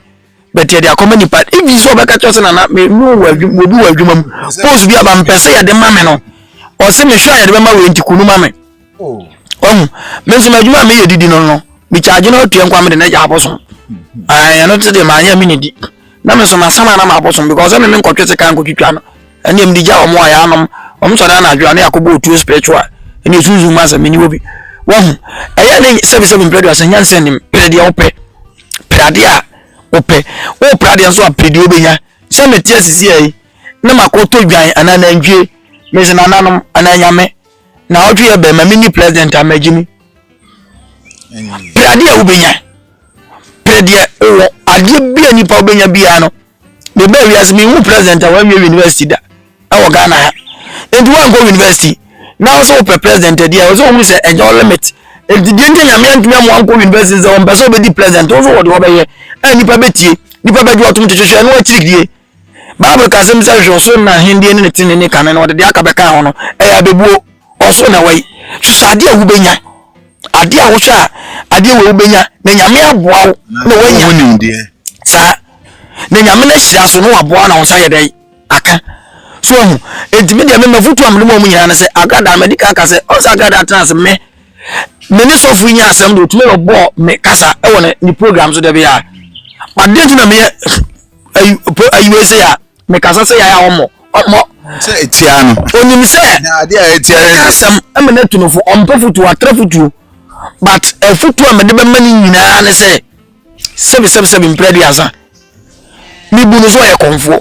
[SPEAKER 1] but yɛde akɔma nipa ebi sɛ ɔbɛka kyerɛ sɛ nana me no wɔ adwuma obi wɔ adwuma mu post bi aba mpɛ sɛ yɛde ma me no ɔsɛ me hwɛ a yɛde bɛma wei nti kunu ma me oh. ɔhu me nso m'adwuma a meyɛ didi no no mekyagye no atua nkwa mede no agya abosom ɛno mm-hmm. te deɛ maanyɛ me ne di na me nso masam a na maabosom because ɛme me nkɔtwe sika nkɔtwitwa no ɛneɛ mede gya wɔn a yɛanom wɔn sɔre anadwo a ne yɛakɔbɔ otuo spiritual ɛne ɛsunsun mu asɛ mene wɔ bi wahu ɛyɛ ne sɛbisɛbi mpɛ do asɛ nyansa nim pere deɛ wopɛ pere adeɛ a wopɛ wopere adeɛ nso a pere deɛ wobɛnya sɛ mete asisi ɛyi na makɔtɔ dwan anaa nantwie mese nananom anaa nyame na ɔtwe yɛ bɛrima mini president a magye mu pere adeɛ a wobɛnya pere deɛ wowɔ adeɛ bi a nipa wobɛnya biara no mebaa wiase mehu president a wanwie university da ɛwɔ ghana ha nti wankɔ university na ɔsɛ wopɛ president adi a ɔsɛ ohunu sɛ ɛnyɛ wo limit nti deɛ nti nyame antumi ama wankɔ university sɛ ɔmpɛ sɛ ɔbɛdi president wo nso wɔde wɔbɛyɛ a nnipa bɛtie nnipa bɛgye ɔtom kyekyehwɛ ɛno akyirikdie bible ka sɛm sɛ hwɛ ɔsoro na ahendeɛ ne ne tene ne kane na ɔde deɛ aka bɛka ho no ɛyɛ abɛbuo Ɔsoro na ɛwɔ yi. Susu adeɛ a wobɛnya. Adeɛ a wohwɛ a adeɛ wei wobɛnya na Nyame aboa wo na woanya. Wohu nimdeɛ.
[SPEAKER 3] Saa.
[SPEAKER 1] Na Nyame no ahyira so na waboa na wo nsa yɛ dɛ aka. So ahu. Enti me deɛ me mafutu a mede ma ɔmo nyinaa ne sɛ agrada madi kan ka sɛ ɔsɛ agrada atena ase me me ne sɔfo yi nya asɛm de otumi na ɔbɔ me kasa ɛwɔ ne ne program so dɛbi a. Adeɛ nti na meyɛ ayi ayi wei sɛ ya. Mekasa sɛ yaya ɔmmɔ, ɔmmɔ. Sɛ
[SPEAKER 3] ɛtia no. Ɔnim sɛ. Na
[SPEAKER 1] adeɛ a ɛtia no. Ɛka
[SPEAKER 3] asɛm ɛma no atu no
[SPEAKER 1] fo, ɔmpɛ fotuo, atra fotuo. But afotuo a mede bɛma no nyinaa ne sɛ, sɛbi sɛbi sɛbi mprɛ aduasa. Mebu no so ɔyɛ kɔmfoɔ.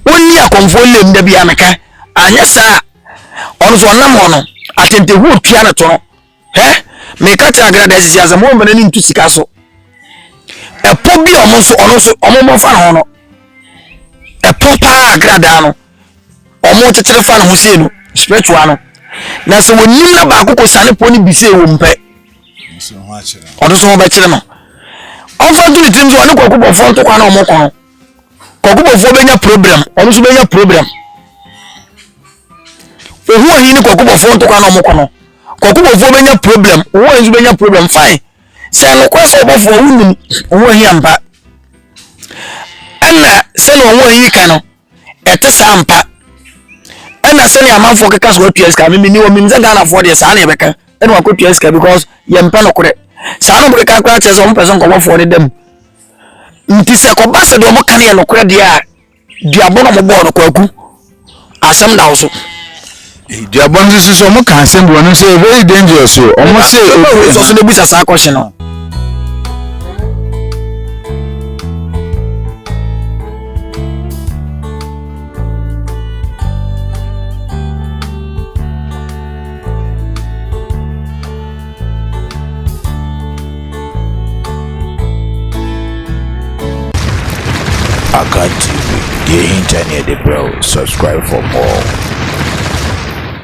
[SPEAKER 1] Ɔnni akɔmfoɔ lem da bia meka. Anyɛ saa a, ɔno so ɔnam hɔ no, atentehuo tua no to no. Hɛ, meka kyerɛ agrada sisi asɛm, wɔn mfa n'ani nto sika so. Ɛpo bi a wɔn nso, ɔno nso, wɔn mmɔ fa ho no, ɛpo paa agradaa no, wɔn kyekyere fa ne ho sei no, spiritual no. Na sɛ wɔnim na baako kɔ sane po no bi sei wɔn pɛ,
[SPEAKER 3] ɔno nso ho bɛkyerɛ no.
[SPEAKER 1] Ɔmfa nto ne tirim sɛ ɔne kɔkɔbɔfoɔ ntokwa na wɔn kɔ no. kɔkɔbɔfoɔ bɛnya problem ɔno nso bɛnya problem ohu ahi ne kɔkɔbɔfoɔ ntokwa na ɔmokɔ no kɔkɔbɔfoɔ bɛnya problem ohu ahi nso bɛnya problem fine sɛ nokorɛ sɛ ɔbɔfoɔ wonim ohu ahi ampa ɛna sɛne ohu ahi ka no ɛte saa mpa ɛna sɛne amanfoɔ keka so watua sika memeni wɔ menim sɛ ghanafoɔ deɛ saa ne ɛbɛka ɛna wakɔtua sika because yɛmpɛ nokorɛ saa no mokeka koraa kyerɛ sɛ ɔmpɛ sɛ nkɔbɔfoɔ no da mu Nti sɛ kɔba sɛ deɛ wɔka no yɛ nokorɛ deɛ a, duabɔ na wɔbɔɔ no kwaku. Asɛm da wo so. duabɔ
[SPEAKER 3] no nso so wɔn ka asɛm bi wɔn nso very dangerous o wɔn se obi nso so na ebusa saa question
[SPEAKER 1] no.
[SPEAKER 2] Akan TV, deɛ ɛhinta ne yɛde brɛ wo, subscribe for more.